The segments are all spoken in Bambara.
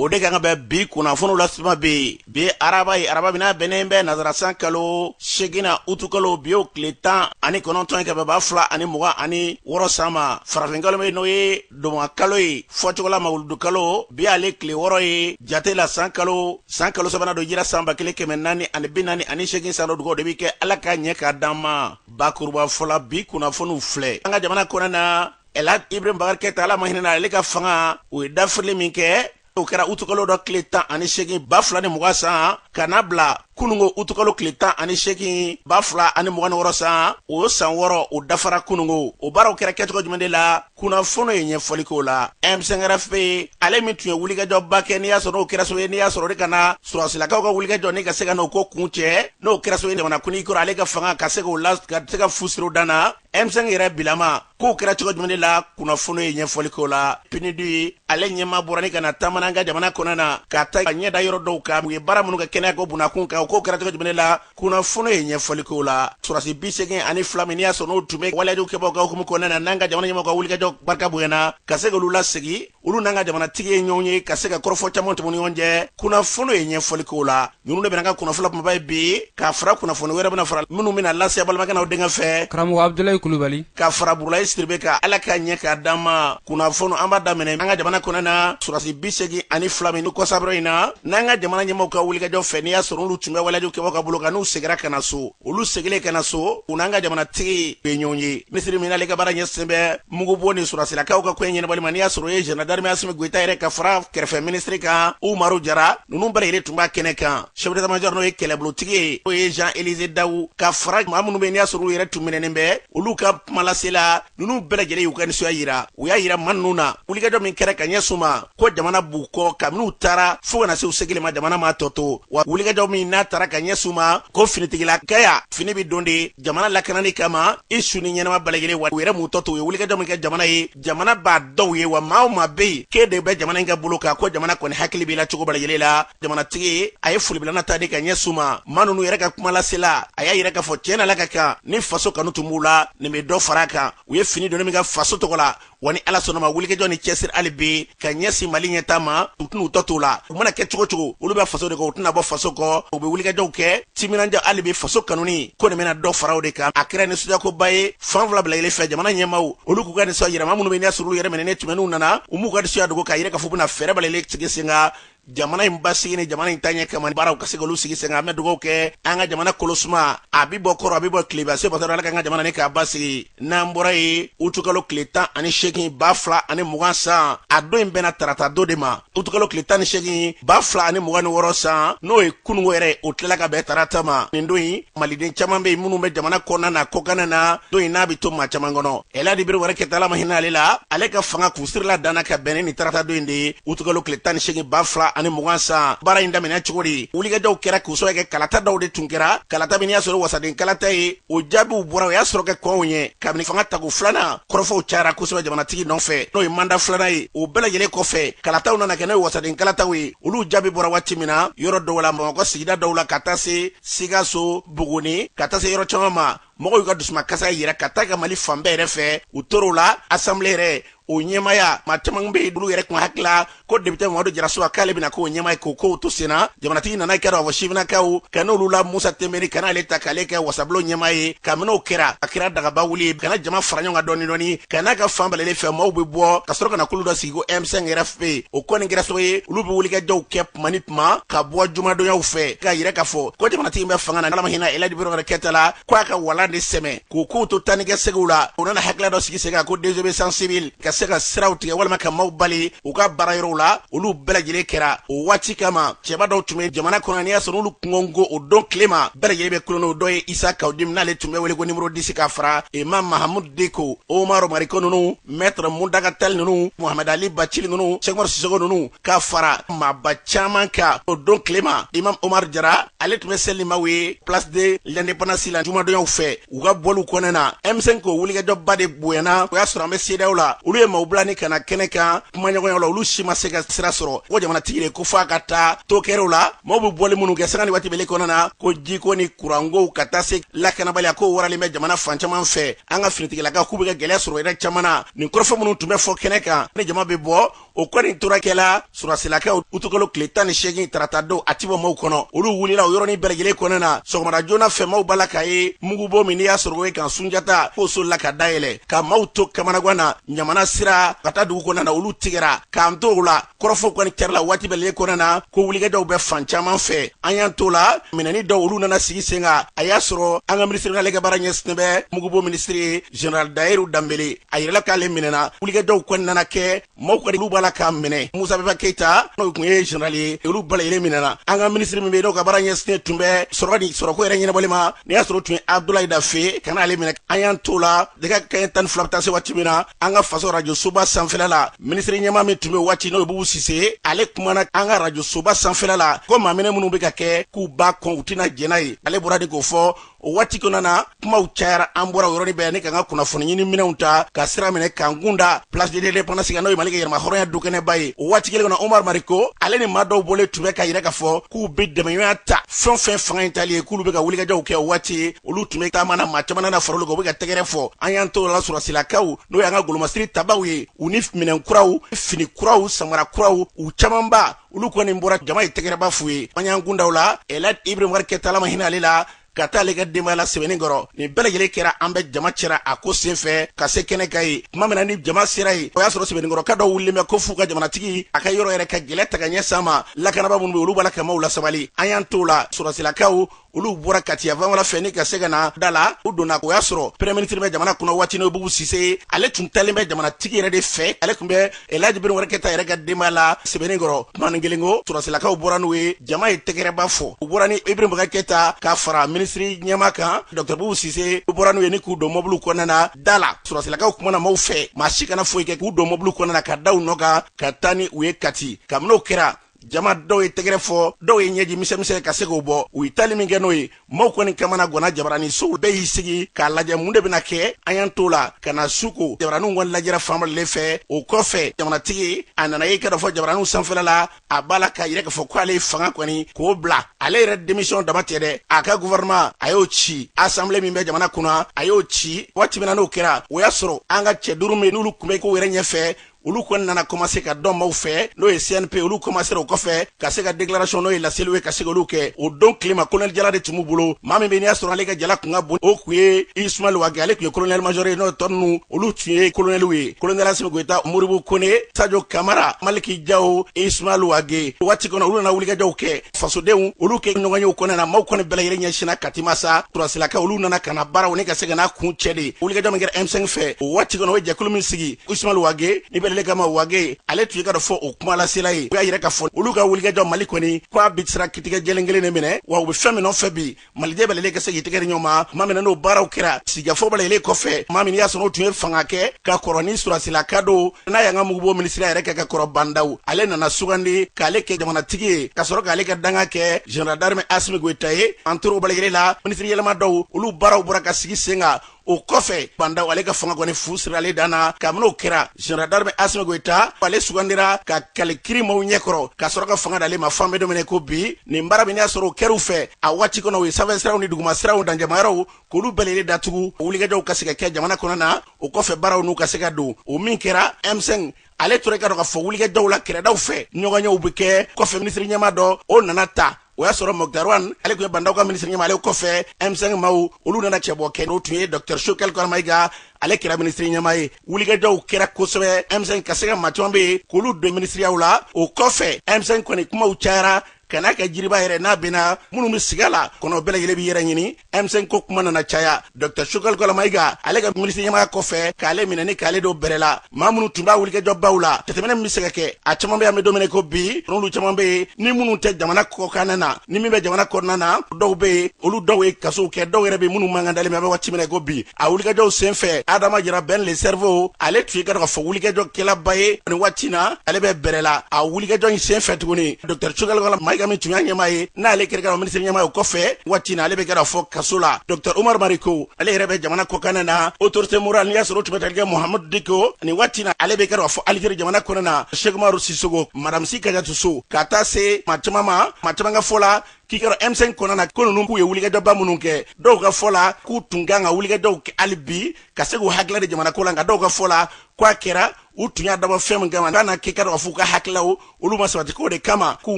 o de kan ka bɛ bi kunnafoniw lasetuma bɛ bi ye araba ye araba min n'a bɛnnen bɛ nazarasan kalo seginnan utukalo bi o tile tan ani kɔnɔntɔn ye ka bɛn ba fila ani mugan ani wɔɔrɔ san ma farafinkalo bɛ n'o ye dɔnba kalo ye fɔcogola mawuludu kalo bi ale tile wɔrɔ ye jate la san kalo san kalo sabanan don hijira san ba kelen kɛmɛ naani ani bi naani ani segin san don dugawu de bɛ kɛ ala ka ɲɛ k'a d'an ma bakurubafɔ la bi kunnafoniw filɛ an ka jamana kɔnɔ na ɛlaji ibrahim bubakari keyita ala ma hinɛna ale ka fanga u ye dafirili min kɛ o kɛra utukalo dɔ tile tan ani segin ba fila ni mugan san ka na bila kunungo utukalo tile tan ani segin ba fila ani mugan ni wɔrɔ san o san wɔrɔ o dafara kunungo o baaraw kɛra kɛcogo jumɛn de la kunnafoni ye ɲɛfɔli k'o la M5 RFP ale min tun ye wulikajɔba kɛ n'i y'a sɔrɔ n'o kɛra sabu ye n'i y'a sɔrɔ de ka na sɔrɔsilakaw ka wulikajɔ ni ka se ka n'o ko kuncɛ n'o kɛra sabu ye jamana kuntigi kɔrɔ ale ka fanga ka se k'o la ka se ka fusiro dan na M5 yɛrɛ bilama kow kɛra cogo jumɛn de la kunnafoni ye ɲɛfɔli k'o la PNUD ale ɲɛmaa bɔra ni ka na taama na an ka jamana kɔnɔ na ka taa a ɲɛ da yɔrɔ dɔw kan u ye baara minnu kɛ kɛnɛya ko bunda kun kan kow kɛra cogo jumɛn de la kunnafoni ye ɲɛfɔli k'o la sɔrɔsi bi seegin ani fila min n'i y'a sɔrɔ n'o tun bɛ waleyajugu kɛbagaw ka hukumu kɔnɔna na n'an ka jamana ɲɛmɔgɔw ka wulikajɔ barika bonyana ka se k'olu lasegin olu n'an ka jamanatigi ye ɲɔgɔn ye ka se ka kɔrɔfɔ caman tɛmɛ ɲɔgɔn cɛ kunnafoni ye ɲɛfɔli k'o la ninnu de bɛna k'an ka kunnafoni kunbaba ye bi ka fara kunnafoni wɛrɛ bɛna fara minnu bɛna lase aw balimakɛ n'aw denkɛ fɛ karamɔgɔ abudulayi kulubali ka fara burulayi sidibe kan ala ka ɲɛ k'a d'an ma kunnafoni an b'a daminɛ an ka jamana kɔnɔ na surasi bi segin ani fila min ni kɔsabara in na n'an ka jamana ɲɛmɔgɔw ka wulikajɔ fɛ n'i y'a sɔrɔ olu tun bɛ waleyajugu kɛbagaw ka bolo kan n'u segira ka na so olu segilen ka na so u n'an ka jamanatigi ye ɲɔgɔn ye minisiri min n'ale ka baara ɲɛsinnen bɛ mugubɔ ni sɔrɔsilakaw ka koɲɛ ɲɛnabɔli ma n'i y'a sɔrɔ o ye général d'armée asimi goyita yɛrɛ ka fara kɛrɛfɛ minisiri kan umaru jara ninnu bɛɛ lajɛlen tun b'a kɛnɛ kan chef d'état-major n'o ye kɛlɛbolotigi ye o ye jean elize dawu ka fara maa minnu bɛ n'i y'a sɔrɔ olu yɛrɛ tun minɛnen bɛ olu ka kumalasela ninnu bɛɛ lajɛlen y'u ka nisɔndiya yira u y'a yira maa ninnu na wulikajɔ min kɛra ka ɲɛsin u ma ko jamana b'u kɔ kabini u taara fo ka na se u segili ma jamana m'a tɔ to wa wulikajɔ min n'a taara ka ɲɛsin u ma ko finitigilakaya fini bɛ don de jamana lakanani kama i su ni ɲɛnama bɛɛ lajɛlen wa u yɛrɛ m'u tɔ to u ye wulikajɔ min kɛ jamana ye jamana b'a dɔn u ye wa maa o maa bɛ yen k'e de bɛ jamana in ka bolo kan ko jamana kɔni hakili b'i la cogo bɛɛ lajɛlen la jamanatigi a ye folibilana ta de ka ɲɛsin u ma maa nunu yɛrɛ ka kumalasela a y'a yira k'a fɔ tiɲɛ na la ka kan ni faso kanu tun b'u la nin bɛ dɔ far'a kan u ye fini doni min kɛ faso tɔgɔ la wa ni ala sɔnn'a ma wulikajɔ ni cɛsiri hali bi ka ɲɛsin mali ɲɛtaa ma u tɛn'u tɔ t'o la u mana kɛ cogo o cogo olu bɛ faso de kɔ u tɛna bɔ faso kɔ u bɛ wulikajɔw kɛ timinanja hali bi faso kanuni ko nin bɛna dɔ far'o de kan a kɛra nisɔndiyakoba ye fan fila bɛɛ lajɛlen fɛ jamana ɲɛmaw olu k'u ka nisɔndiya yira maa minnu bɛ n'i y'a sɔrɔ olu yɛrɛ minɛnen tun bɛ n'u nana u m'u ka nisɔndiya dogo k'a yira k'a fɔ u bɛna fɛɛrɛ bɛɛ lajɛlen sigi sen kan jamana in basigi ni jamana in taɲɛ kama baaraw ka se k'olu sigi sen kan an bɛ dugawu kɛ an ka jamana kolosuma a bi bɔ kɔrɔn a bi bɔ tilebin se bɔtɔ ala k'an ka jamana ni k'a basigi n'an bɔra yen utukalo tile tan ani seegin ba fila ani mugan san a don in bɛnna tarata don de ma utukalo tile tan ni seegin ba fila ani mugan ni wɔɔrɔ san n'o ye kunungo yɛrɛ o tilala ka bɛn tarata ma nin don in maliden caman bɛ yen minnu bɛ jamana kɔnɔna na kɔkanna na don in n'a bɛ to maa caman kɔnɔ eladi ibrahim bubakar keyita ala ma hinɛ ale la ale ka fanga kun sirila danna ka bɛn ni tarata don in de ye utukalo tile tan ni seegin ba fila ani mugan san baara in daminɛ cogo di wulikajɔw kɛra k'u sɔrɔ kɛ kalata dɔw de tun kɛra kalata min y'a sɔrɔ wasaden kalata ye o jaabiw bɔra o y'a sɔrɔ ka kɔn o ɲɛ kabini fanga tako filanan kɔrɔfɔw cayara kosɛbɛ jamanatigi nɔfɛ n'o ye manda filanan ye o bɛɛ lajɛlen kɔfɛ kalataw nana kɛ n'o ye wasaden kalataw ye olu jaabi bɔra waati min na yɔrɔ dɔw la bamakɔ sigida dɔw la ka taa se sikaso buguni ka taa se yɔrɔ caman ma mɔgɔw y'u ka dusumakasa yira ka taa ka mali fan bɛɛ yɛrɛ fɛ u tor'o la asanbile yɛrɛ o ɲɛmaya maa caman bɛ olu yɛrɛ kun hakili la ko depite mamadu jarasuba k'ale bɛna k'o ɲɛmaa ye k'o kow to senna jamanatigi nana k'a da fɔ sifinnakaw kan olu la musa tenbine ka n'ale ta k'ale kɛ wasabulon ɲɛmaa ye kabini o kɛra a kɛra dagaba wuli ye ka na jama fara ɲɔgɔn kan dɔɔni dɔɔni ka n'a kɛ fan bɛɛ lajɛlen fɛ maaw bɛ bɔ ka sɔrɔ ka na kulu dɔ sigi ko m5 rfp o kɔni kɛra sababu ye olu bɛ wulikajɔw kɛ tuma ni tuma ka bɔ jumadonyaw fɛ k'a yira k'a fɔ ko jamanatigi bɛ fanga na ala ma hinɛ eladi ibrahim keyita la ko a ka walan de sɛmɛ k'o kow to taanikaseginw la u nana hakilila dɔ sigi sen kan ko désobéissance civile ka se ka siraw tigɛ walima ka maaw bali u ka baara yɔrɔw la olu bɛɛ lajɛlen kɛra o waati kama cɛba dɔw tun bɛ jamana kɔnɔ n'i y'a sɔrɔ olu kungo o don tile ma bɛɛ lajɛlen bɛ kulu n'o dɔ ye isa kawu jim n'ale tun bɛ wele ko nimoro disi ka fara imam mahamud diko omar mariko ninnu mɛtre muntaga tal ninnu mohamɛd ali bacili ninnu sɛki omar sisoko ninnu ka fara maaba caman kan o don tile ma imam omar jara ale tun bɛ seli maaw ye place de l'indépendance la jumadonyaw fɛ u ka bɔliw kɔnɔna na m5 k'o wulikajɔba de bonyana o y'a sɔrɔ an bɛ sedeyawo la olu ye maaw bila ni ka na kɛnɛ kan kumaɲɔgɔnyaw la olu si ma se ka sira sɔrɔ ko jamanatigi de ko fo a ka taa to kɛrɛw la maaw bɛ bɔli minnu kɛ sanga ni waati bɛle kɔnɔna na ko jiko ni kurankow ka taa se lakanabaliya ko waralen bɛ jamana fan caman fɛ an ka finitigilakaw k'u bɛ ka gɛlɛya sɔrɔ yɔrɔ caman na nin kɔrɔfɔ minnu tun bɛ fɔ kɛnɛ kan ni jama bɛ bɔ o kɔni tora kɛ la sɔrɔdasilakaw utukalo tile tan ni seegin tarata don a ti bɔ maaw kɔnɔ olu wulila o yɔrɔnin bɛɛ lajɛlen kɔnɔna na sɔgɔmada joona fɛ maaw bala k'a ye mugubon min n'i y'a sɔrɔ o ye kan sunjata k'o solila ka dayɛlɛ ka maaw to kamanagan na ɲamana sira ka taa dugu kɔnɔna na olu tigɛra k'an to o la kɔrɔfɔ kɔni kɛra la waati bɛɛ lajɛlen kɔnɔna na ko wulikajɔw bɛ fan caman fɛ an y'an t'o la minɛni dɔw olu nana sigi sen kan a y'a sɔrɔ an ka minisiri n'ale ka baara ɲɛsinnen bɛ mugubon minisiri ye general dahiru danbele a yirala k'ale minɛna wulikajɔw kɔni nana kɛ maaw kɔni olu bala k'a mɛn musa benba keyita n'o tun ye general ye olu bɛɛ lajɛlen minɛna an ka minisiri min bɛ yen n'o ka baara ɲɛsinnen tun bɛ sɔrɔ ni sɔrɔko yɛrɛ ɲɛnabɔli ma n'i y'a sɔrɔ tun ye abdulayi dafe ye ka n'ale minɛ an y'an to la nɛgɛ kaɲɛ tan ni fila bɛ taa se waati min na an ka faso rajo soba sanfɛla la minisiri ɲɛmaa min tun bɛ waati n'o ye bubu sise ale kumana an ka rajo soba sanfɛla la ko maaminɛ minnu bɛ ka kɛ k'u b'a kɔn u tɛna jɛn n'a ye ale bɔra de k'o fɔ o waati kɔnɔna na kumaw cayara an bɔra o yɔrɔnin bɛɛ ni k'an ka kunnafoni ɲini minɛnw ta ka sira minɛ k'an kun da place de l'indépendance kan n'o ye mali ka yɛrɛmahɔrɔnya dukɛnɛba ye o waati kelen kɔnɔ omar mariko ale ni maa dɔw bɔlen tun bɛ k'a yira k'a fɔ k'u bɛ dɛmɛɲɔgɔnya ta fɛn fɛn fanga in tali ye k'olu bɛ ka wulikajɔw kɛ o waati ye olu tun bɛ taama na maa caman nana fara olu kan u bɛ ka tɛgɛrɛ fɔ an y'an t'o la sɔrɔsilakaw n'o y'an ka golomasiri tabaw ye u ni minɛn kuraw fini kuraw samara kuraw u camanba olu kɔni bɔra jama ye tɛgɛrɛba f'u ye an y'an kun da u la elaji ibrahim keyita ala ma hinɛ ale la ka taa ale ka denbaya la sɛbɛninkɔrɔ nin bɛɛ lajɛlen kɛra an bɛ jama cɛra a ko sen fɛ ka se kɛnɛ kan yen tuma min na ni jama sera yen o y'a sɔrɔ sɛbɛninkɔrɔka dɔ wulilen bɛ ko f'u ka jamanatigi a ka yɔrɔ yɛrɛ ka gɛlɛ ta ka ɲɛsin a ma lakanaba minnu bɛ olu b'a la ka maaw lasabali an y'an t'o la sɔrɔsilakaw olu bɔra kati a fanfɛla fɛ ni ka se ka na da la u donna o y'a sɔrɔ premier ministre bɛ jamana kɔnɔ waati n'o ye bubu sise ye ale tun talen bɛ jamanatigi yɛrɛ de fɛ ale tun bɛ elaji ibrahim bubakar keyita yɛrɛ ka denbaya la sɛbɛninkɔrɔ tumanin kelen kɔ sɔrɔsilakaw bɔra n'u ye jama ye tɛgɛrɛba fɔ u bɔra ni ibrahim bubakar keyita ka fara minisiri ɲɛmaa kan dɔkitɛri bubu sise u bɔra n'u ye ni k'u don mɔbiliw kɔnɔna na da la sɔrɔsilakaw kumana maaw fɛ maa si kana foyi kɛ k'u don mɔbiliw kɔnɔna na ka da u nɔ kan ka taa ni u ye kati kabini o kɛra jama dɔw ye tɛgɛrɛ fɔ dɔw ye ɲɛji misɛmisɛ ka se k'o bɔ u ye tali min kɛ n'o ye maaw kɔni kamanagwanna jabarani sow bɛɛ y'i sigi k'a lajɛ mun de bɛna kɛ an y'an t'o la ka na su ko jabaraniw kɔni lajɛra fan bɛɛ lajɛlen fɛ o kɔfɛ jamanatigi a nana yen ka dɔ fɔ jabaraniw sanfɛla la a b'a la k'a yira k'a fɔ k'ale ye fanga kɔni k'o bila ale yɛrɛ demisiyɔn dama tɛ dɛ a ka guvɛrɛnman a y'o ci asanbile min bɛ jamana kunna a y'o ci waati min na n'o kɛra o y'a sɔrɔ an ka cɛ duuru minnu olu kun bɛ kow yɛrɛ ɲɛfɛ olu kɔni nana kɔmase ka dɔn maaw fɛ n'o ye cnp olu kɔmasera o kɔfɛ ka se ka deklarasɔn n'o ye laseliw ye ka se k'olu kɛ o don tilema kolonɛli jala de tun b'u bolo maa min bɛ n'i y'a sɔrɔ ale ka jala kun ka bon o kun ye ismail wage ale tun ye kolonɛli majɔri ye n'o tɔ ninnu olu tun ye kolonɛliw ye kolonɛli asimi goyita modibo kone sajo kamara maliki jawo ismail wage waati kɔnɔ olu nana wulikajɔw kɛ fasodenw olu ka ɲɔgɔnyew kɔnɔna na maaw kɔni bɛɛ lajɛlen ɲɛsinna kati ma sa surasilakaw olu nana ka na baaraw ni ka se ka n'a kuncɛ de wulikajɔ min kɛra m5 fɛ o waati kɔnɔ o ye jɛkulu min sigi ismail wage nin bɛɛ lajɛlen kama wage ale tun ye ka dɔ fɔ o kuma lasela ye u y'a yira k'a fɔ olu ka wulikajɔ mali kɔni k'a bi sira kitigɛ jɛlen kelen de minɛ wa u bɛ fɛn min nɔfɛ bi maliden bɛɛ lajɛlen ka se k'i tɛgɛ di ɲɔgɔn ma tuma min na n'o baaraw kɛra sigikafɔ bɛɛ lajɛlen kɔfɛ maa min n'i y'a sɔrɔ o tun ye fanga kɛ ka kɔrɔ ni surasilaka don n'a y'an ka mugubo minisiriya yɛrɛ kɛ ka kɔrɔ ba ndaw ale nana sugandi k'ale kɛ jamanatigi ye ka sɔrɔ k'ale ka dankan kɛ général d'armée asimi goyita ye an tora o bɛɛ lajɛlen la minisiri yɛlɛma dɔw olu baaraw bɔra ka sigi sen kan o kɔfɛ ba ndaw ale ka fanga kɔni fu sirilen dan na kabini o kɛra général d'armée asimi goyita ale sugandira ka kali kiri maw ɲɛkɔrɔ ka sɔrɔ ka fanga d'ale ma f'an bɛ don min na ko bi nin baara min y'a sɔrɔ o kɛr'u fɛ a waati kɔnɔ u ye sanfɛ siraw ni duguma siraw dancɛmayɔrɔw k'olu bɛɛ lajɛlen datugu o wulikajɔw ka se ka kɛ jamana kɔnɔ na o kɔfɛ baaraw n'u ka se ka don o min kɛra m5 ale tora k'a dɔn k'a fɔ wulikajɔw la kɛrɛdaw fɛ ɲɔgɔnyew bɛ kɛ kɔfɛ minisiri ɲɛma dɔ o nana ta o y'a sɔrɔ moktar wan ale tun ye ba ndaw ka minisiri ɲɛma ale kɔfɛ m5 maw olu nana cɛbɔ kɛ n'o tun ye dɔktɛr shogɛl kokala mayiga ale kɛra minisiri ɲɛma ye wulikajɔw kɛra kosɛbɛ m5 ka se ka ma caman bɛ yen k'olu don minisiriyaw la o kɔfɛ m5 kɔni kumaw cayara ka n'a kɛ jiriba yɛrɛ n'a binna minnu bɛ sigi a la kɔnɔ bɛɛ lajɛlen b'i yɛrɛ ɲini m5 ko kuma nana caya dɔkta shogɛl kokala mayiga ale ka minisiri ɲɛmaya kɔfɛ k'ale minɛ ni k'ale don bɛrɛ la maa minnu tun b'a wulikajɔbaw la jateminɛ min bɛ se ka kɛ a caman bɛ yen an bɛ don min na ko bi n'olu caman bɛ yen ni minnu tɛ jamana kɔkanna na ni min bɛ jamana kɔnɔna na dɔw bɛ yen olu dɔw ye kasow kɛ dɔw yɛrɛ bɛ minnu mankan dalen bɛ an bɛ waati min na ko bi a wulikajɔw sen fɛ adama jara ben le cerveau ale tun ye k'a dɔn k'a fɔ wulikajɔ kɛlaba ye nin waati na ale bɛ bɛrɛ la a wulikajɔ in sen fɛ tuguni dɔkta shogɛl kokala mayiga min tun y'a ɲɛmaa ye n'ale yɛrɛ kɛra minisiri ɲɛma ye o kɔfɛ waati na ale bɛ k'a dɔn k'a fɔ kaso la dr umaru mariko ale yɛrɛ bɛ jamana kɔkanna na autorité morale n'i y'a sɔrɔ o tun bɛ tali kɛ mahamudu diko nin waati na ale bɛ k'a dɔn k'a fɔ alizeri jamana kɔnɔna na seki umaru sisoko madamu si kajatu so ka taa se ma caman ma ma caman ka fɔ la k'i kɛra M5 kɔnɔna na ko ninnu k'u ye wulikajɔba minnu kɛ dɔw ka fɔ la k'u tun kan ka wulikajɔw kɛ hali bi ka se k'u hakilila di jamanako la nka dɔw ka fɔ la k'a kɛra u tun y'a dabɔ fɛn min kama ka n'a kɛ k'a dɔn k'a fɔ u ka hakililaw olu ma sabati k'o de kama k'u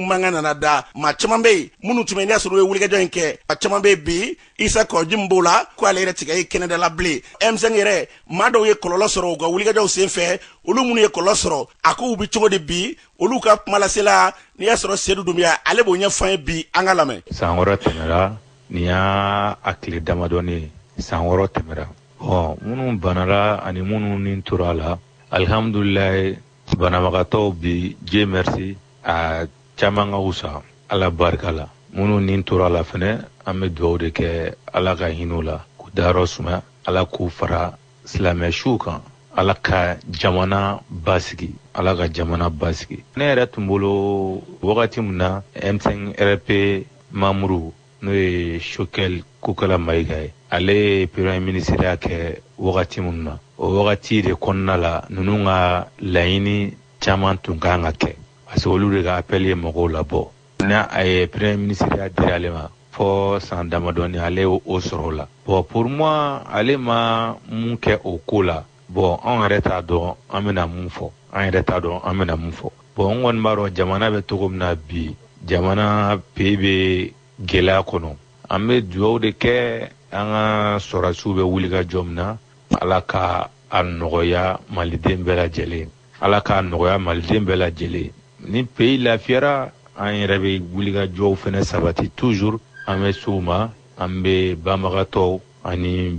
mankan nana da maa caman bɛ yen minnu tun bɛ n'i y'a sɔrɔ u ye wulikajɔ in kɛ a caman bɛ yen bi isa kawu jim b'o la ko ale yɛrɛ tɛ ka ye kɛnɛda la bilen M5 yɛrɛ maa dɔw ye kɔlɔlɔ sɔrɔ u ka wulikajɔw sen fɛ olu minnu ye kɔlɔlɔ sɔrɔ a kow bɛ cogo di bi olu ka kumalasela n'i y'a sɔrɔ sedu dunbiya ale b'o ɲɛfɔ an ye bi an k'a lamɛn san wɔɔrɔ tɛmɛra nin y'a a tile damadɔni san wɔɔrɔ tɛmɛra Ɔ minnu banara ani minnu ni tora a la alihamdulila banabagatɔw bi dieu merci a caman ka wusa ala barika la minnu ni tora a la fɛnɛ an bɛ dugaw de kɛ ala ka hinɛ u la k'u dayɔrɔ suma ala k'u fara silamɛ suw kan ala ka jamana basigi ala ka jamana basigi ne yɛrɛ tun bolo wagati min na M5 RFP mamuru n'o ye shogɛl kokala mayiga ye ale ye peremye minisiriya kɛ wagati minnu na o wagati de kɔnɔna la ninnu ka laɲini caman tun ka kan ka kɛ parce que olu de ka apɛli ye mɔgɔw labɔ n'a ye peremye minisiriya di ale ma fɔ san damadɔni ale y'o sɔrɔ la bon pour moi ale ma mun kɛ o ko la bɔn anw yɛrɛ t'a dɔn an bɛna mun fɔ an yɛrɛ t'a dɔn an bɛna mun fɔ bɔn n kɔni b'a dɔn jamana bɛ cogo min na bi jamana pays bɛ gɛlɛya kɔnɔ an bɛ dugaw de kɛ an ka sɔrɔdasiw bɛ wuli ka jɔ min na ala ka a nɔgɔya maliden bɛɛ lajɛlen ala k'a nɔgɔya maliden bɛɛ lajɛlen ni pays lafiyara an yɛrɛ bɛ wulikajɔw fɛnɛ sabati toujours an bɛ s'u ma an bɛ banabagatɔw ani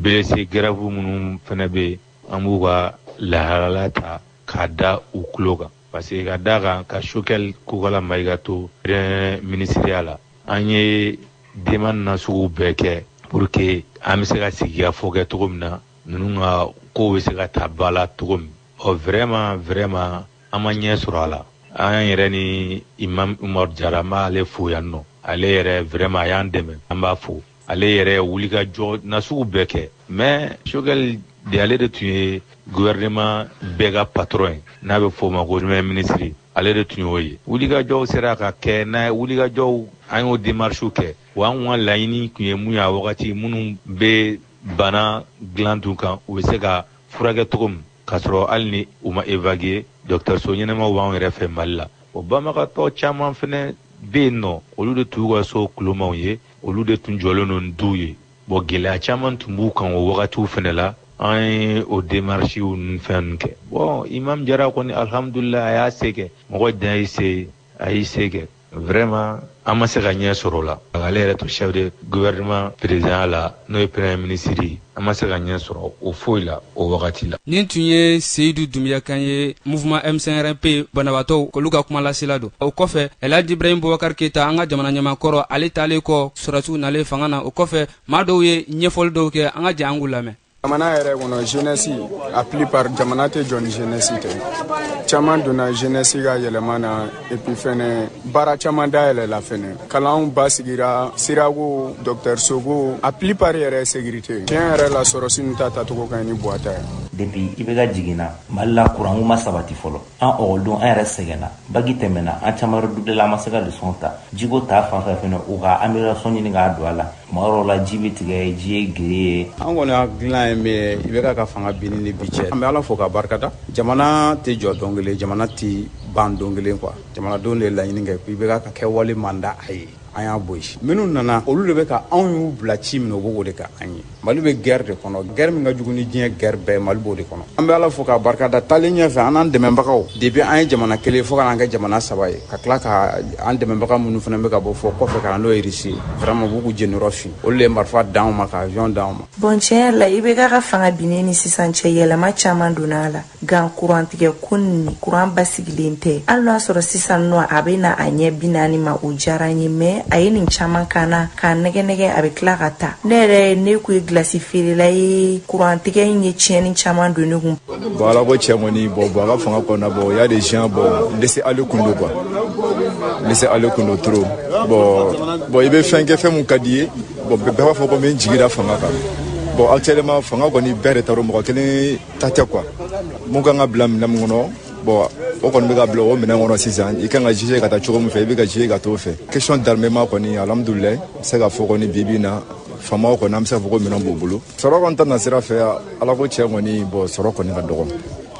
blessé grave minnu fɛnɛ bɛ yen an b'u ka lahalaya ta k'a da u tulo kan parce que ka d'a kan ka Choguel Kokala Mayiga to premier minisiriya la an ye demande nasugu bɛɛ kɛ pour que an bɛ se ka sigikafɔ kɛ cogo min na ninnu ka kow bɛ se ka ta ba la cogo min ɔ vraiment vraiment an ma ɲɛ sɔrɔ a la an yɛrɛ ni imam Umaru Jara n b'ale fo yan nɔ ale yɛrɛ vraiment a y'an dɛmɛ an b'a fo ale yɛrɛ wulikajɔ nasugu bɛɛ kɛ mais Choguel de ale de tun ye gouvernement bɛɛ ka patron ye n'a bɛ fɔ o ma ko premier ministre ale de tun y'o ye wulikajɔw sera ka kɛ n'a wulikajɔw an y'o démarches kɛ wa an ka laɲini tun ye mun ye a wagati minnu bɛ bana dilan tun kan u bɛ se ka furakɛ cogo min k'a sɔrɔ hali ni u ma évacuer dɔgɔtɔrɔso ɲɛnamaw b'an yɛrɛ fɛ mali la o banabagatɔ caman fɛnɛ bɛ yen nɔ olu de tun y'u ka so kulomaw ye olu de tun jɔlen don ni duw ye bɔn gɛlɛya caman tun b'u kan o wagatiw fɛnɛ la an ye o démarches ni fɛn ninnu kɛ bɔn imam Jara kɔni alihamdulila a y'a se kɛ mɔgɔ dan y'i se a y'i se kɛ vraiment an ma se ka ɲɛ sɔrɔ a la k'ale yɛrɛ to chef de gouvernement présidentya la n'o ye premier ministre an ma se ka ɲɛ sɔrɔ o foyi la o wagati la nin tun ye seyidu dunbiya kan ye mouvement M5-RFP banabaatɔw k'olu ka kuma lasela don o kɔfɛ elhaj ibrahim bubakar keyita an ka jamana ɲɛmaa kɔrɔ ale taalen kɔ sɔrɔsiw nalen fanga na o kɔfɛ maa dɔw ye ɲɛfɔli dɔw kɛ an ka jɛn an k'u lamɛn jamana yɛrɛ kɔnɔ jeunesse a plupart jamana tɛ jɔ ni jeunesse tɛ caman donna jeunesse ka yɛlɛma na et puis fɛnɛ baara caman dayɛlɛla fɛnɛ kalanw basigira sirako dɔgɔtɔrɔsoko a plupart yɛrɛ sécurité tiɲɛ yɛrɛ la sɔrɔsi ninnu ta tacogo ka ɲi ni buwa ta ye depuis IBK jiginna mali la kuranko ma sabati fɔlɔ an ekɔlidenw an yɛrɛ sɛgɛnna baki tɛmɛna an caman yɛrɛ dubulela an ma se ka lesɔnw ta jiko ta fan fɛ fɛnɛ u ka amélioration ɲini k'a don a la Tuma dɔw la ji bɛ tigɛ ji ye guerre ye an kɔni hakilila ye min IBK ka fanga binni ni bi cɛ an bɛ ala fo ka barikada jamana tɛ jɔ don kelen jamana tɛ ban don kelen quoi jamanadenw de ye laɲini kɛ IBK ka kɛwale man d'an ye an y'a bɔ yen minnu nana olu de bɛ ka anw y'u bila ci min na u bɛ k'o de kɛ an ye mali bɛ guerre de kɔnɔ guerre min ka jugu ni diɲɛ guerre bɛɛ mali b'o de kɔnɔ an bɛ ala fo k'a barikada taalen ɲɛfɛ an n'an dɛmɛbagaw depuis an ye jamana kelen fo ka n'an kɛ jamana saba ye ka tila ka an dɛmɛbaga minnu fana bɛ ka bɔ fo kɔfɛ ka na n'o ye irisi vraiment b'u k'u jɛniyɔrɔ fin olu de ye marifa d'anw ma ka avion d'anw ma bɔn tiɲɛya la IBK ka fanga binnen ni sisan cɛ yɛlɛma caman donna a la nka kurantigɛ kɔni kuran basigi len tɛ hali n'a sɔrɔ sisan nɔ a bɛ na a ɲɛ bi naani ma o diyara n ye mais a ye nin caman ka na k'a nɛgɛ nɛgɛ a bɛ tila ka taa ne yɛrɛ ne tun ye gilasi feerela ye kurantigɛ in ye tiɲɛni caman don ne kun bɔn ala ko tiɲɛ kɔni bɔn bɔn a ka fanga kɔnɔna bɔn il y a des gens bɔn laisser aller tun don quoi laisser aller tun don trop bɔn bɔn i bɛ fɛn kɛ fɛn min ka d'i ye bɔn bɛɛ b'a fɔ ko n bɛ n jigi da fanga kan bɔn actuellement fanga kɔni bɛɛ de ta don mɔgɔ kelen ta tɛ quoi min kan ka bila minɛn min kɔnɔ bɔn o kɔni bɛ ka bila o minɛn kɔnɔ sisan i kan ka juger ka taa cogo min fɛ i bɛ ka juger ka t'o fɛ question d'armement kɔni alhamdulilayi n bɛ se ka fɔ kɔni bibi na faamaw kɔni an bɛ se ka fɔ ko minɛn b'u bolo sɔrɔ kɔni ta nasira fɛ ala ko tiɲɛ kɔni bɔn sɔrɔ kɔni ka dɔgɔ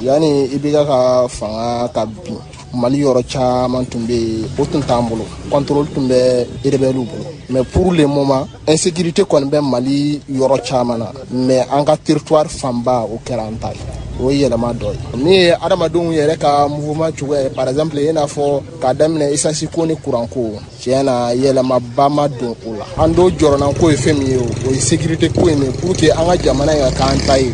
yanni IBK ka fanga ka bin mali yɔrɔ caman tun bɛ yen o tun t'an bolo kɔntoroli tun bɛ erebɛliw bolo mais pour le moment insécurité kɔni bɛ mali yɔrɔ caman na mais an ka territoire fanba o kɛra an ta ye o ye yɛlɛma dɔ ye min ye adamadenw yɛrɛ ka mouvement cogoya ye par exemple i n'a fɔ k'a daminɛ esansi ko ni kuranko tiɲɛ na yɛlɛmaba ma don o la an do jɔrɔnanko ye fɛn min ye o ye sécurité ko ye min pour que an ka jamana in ka k'an ta ye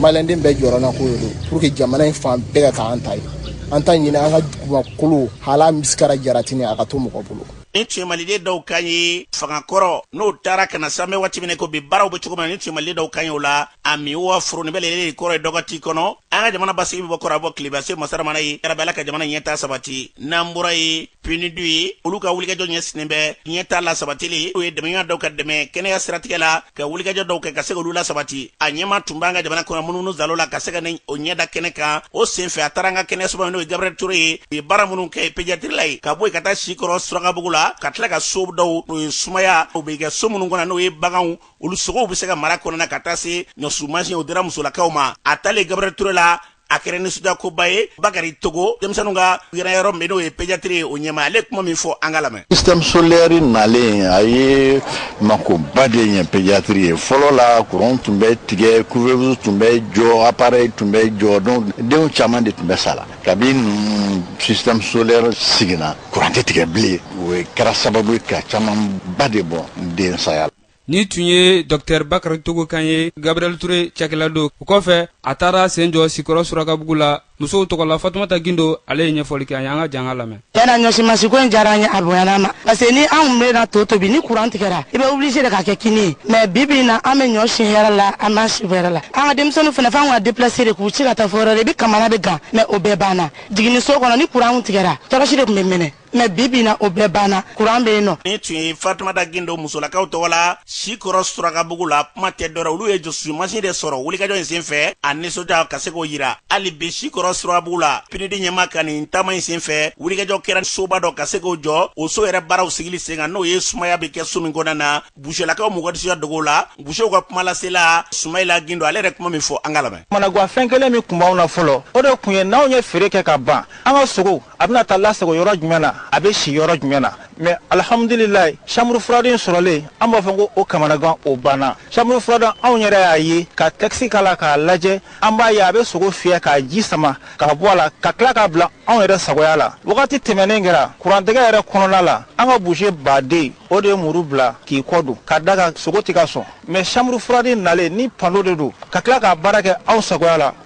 maliden bɛɛ jɔrɔnanko ye pour que jamana in fan bɛɛ ka k'an ta ye an t'a ɲini an ka dugumakolo hali misikara jaratini a ka to mɔgɔ bolo nin tun ye maliden dɔw kan ye fanga kɔrɔ n'o taara ka na san bɛ waati min ko bi baaraw bɛ cogo min na nin tun ye maliden dɔw kan ye o la a mi wa foroni bɛ lele kɔrɔ ye dɔgɔti kɔnɔ an ka jamana basigi bɛ bɔ kɔrɔn a bɔ tilebin se masaramana ye yarabi ala ka jamana ɲɛtaa sabati n'an bɔra yen PNUD ye olu ka wulikajɔ ɲɛsinnen bɛ ɲɛtaa lasabatili o ye dɛmɛɲɔgɔn dɔw ka dɛmɛ kɛnɛya siratigɛ la ka wulikajɔ dɔw kɛ ka se k'olu lasabati a ɲɛma tun b'an ka jamana kɔnɔ munumunu saalo la ka se ka n'o ɲɛda kɛnɛ kan o senfɛ a taara an ka kɛnɛyasoba n'o ye gabriel ture ye u ye baara minnu kɛ pédiatrie la ye ka bɔ yen ka taa sikɔrɔ surakabugu la ka tila ka so dɔw n'o ye sumaya o bɛ kɛ so minnu kɔnɔ n'o ye baganw olu sogow bɛ se ka mara kɔnɔna ka taa se ɲɔsi mansin o dira musolakaw ma a taalen gabriel ture la a kɛra nisɔndiyakoba ye bakari togo denmisɛnninw ka yɛrɛ yɔrɔ min n'o ye pédiatrie ye o ɲɛmaa ale kuma min fɔ an ka lamɛn système solaire nalen a ye makoba de ɲɛ pédiatrie ye fɔlɔ la kuran tun bɛ tigɛ couveuse tun bɛ jɔ appareil tun bɛ jɔ donc denw caman de tun bɛ sala kabi ninnu système solaire sigina kuran tɛ tigɛ bilen o kɛra sababu ye ka camanba de bɔ den saya la Ni tun ye Docteur Bakari Togo kan ye Gabriel Toure cakɛla don. O kɔfɛ a taara sen jɔ Sikɔrɔ Surakabugu la musow tɔgɔ la. Fatumata Gindo ale ye ɲɛfɔli kɛ an ye. An ka jɛ an ka lamɛn. Tiɲɛ na ɲɔsimasin ko in diyara an ye, a bonyana an ma. Parce que ni an tun bɛ na to tobi, ni courant tigɛra, i bɛ obligé de ka kɛ kini ye. Mais bi bi in na, an bɛ ɲɔ si hɛrɛ la, an b'a si hɛrɛ la. An ka denmisɛnninw fana, f'an ka déplacer de k'u ci ka taa fo yɔrɔ wɛrɛ. I bɛ kamana bɛ gan mais o bɛɛ banna. Jiginniso kɔnɔ, ni courant tun tigɛra, tɔrɔsi de tun bɛ mɛnɛ. mɛ bibi na o bɛɛ banna kuran bɛ yen nɔ ni tun ye fatumata gindo musolakaw tɔgɔ la sikɔrɔ surakabugu la kuma tɛ dɔwɛrɛ olu ye ɲɔsimasin de sɔrɔ wulikajɔ in senfɛ a nisɔndiya ka se k'o yira hali bi sikɔrɔ surakabugu la pinidi ɲɛmaa ka nin taama in senfɛ wulikajɔ kɛra soba dɔ ka se k'o jɔ o so yɛrɛ baaraw sigili sen kan n'o ye sumaya bɛ kɛ so min kɔnɔna na buselakaw mɔgɔdisiya dogow la busew ka kuma lasela sumayila gindo ale yɛrɛ kuma min fɔ an ka lamɛn kamanagwan fɛn kelen min tun b'anw na fɔlɔ o de tun ye n'anw ye feere kɛ ka ban an ka sogow a bɛna taa lasago yɔrɔ jumɛn na a bɛ si yɔrɔ jumɛn na mɛ alihamudulilayi chambre froide sɔrɔlen an b'a fɔ ko o kamanagan o banna chambre froide anw yɛrɛ y'a ye ka tɛkisi k'a la k'a lajɛ an b'a ye a bɛ sogo fiyɛ k'a ji sama k'a bɔ a la ka tila k'a bila anw yɛrɛ sagoya la wagati tɛmɛnen kɛra kurantigɛ yɛrɛ kɔnɔna la an ka buse baden o de ye muru bila k'i kɔ don ka d'a kan sogo tɛ ka sɔn mɛ chambre froide nalen ni panneau de don ka tila k'a baara kɛ anw sagoya la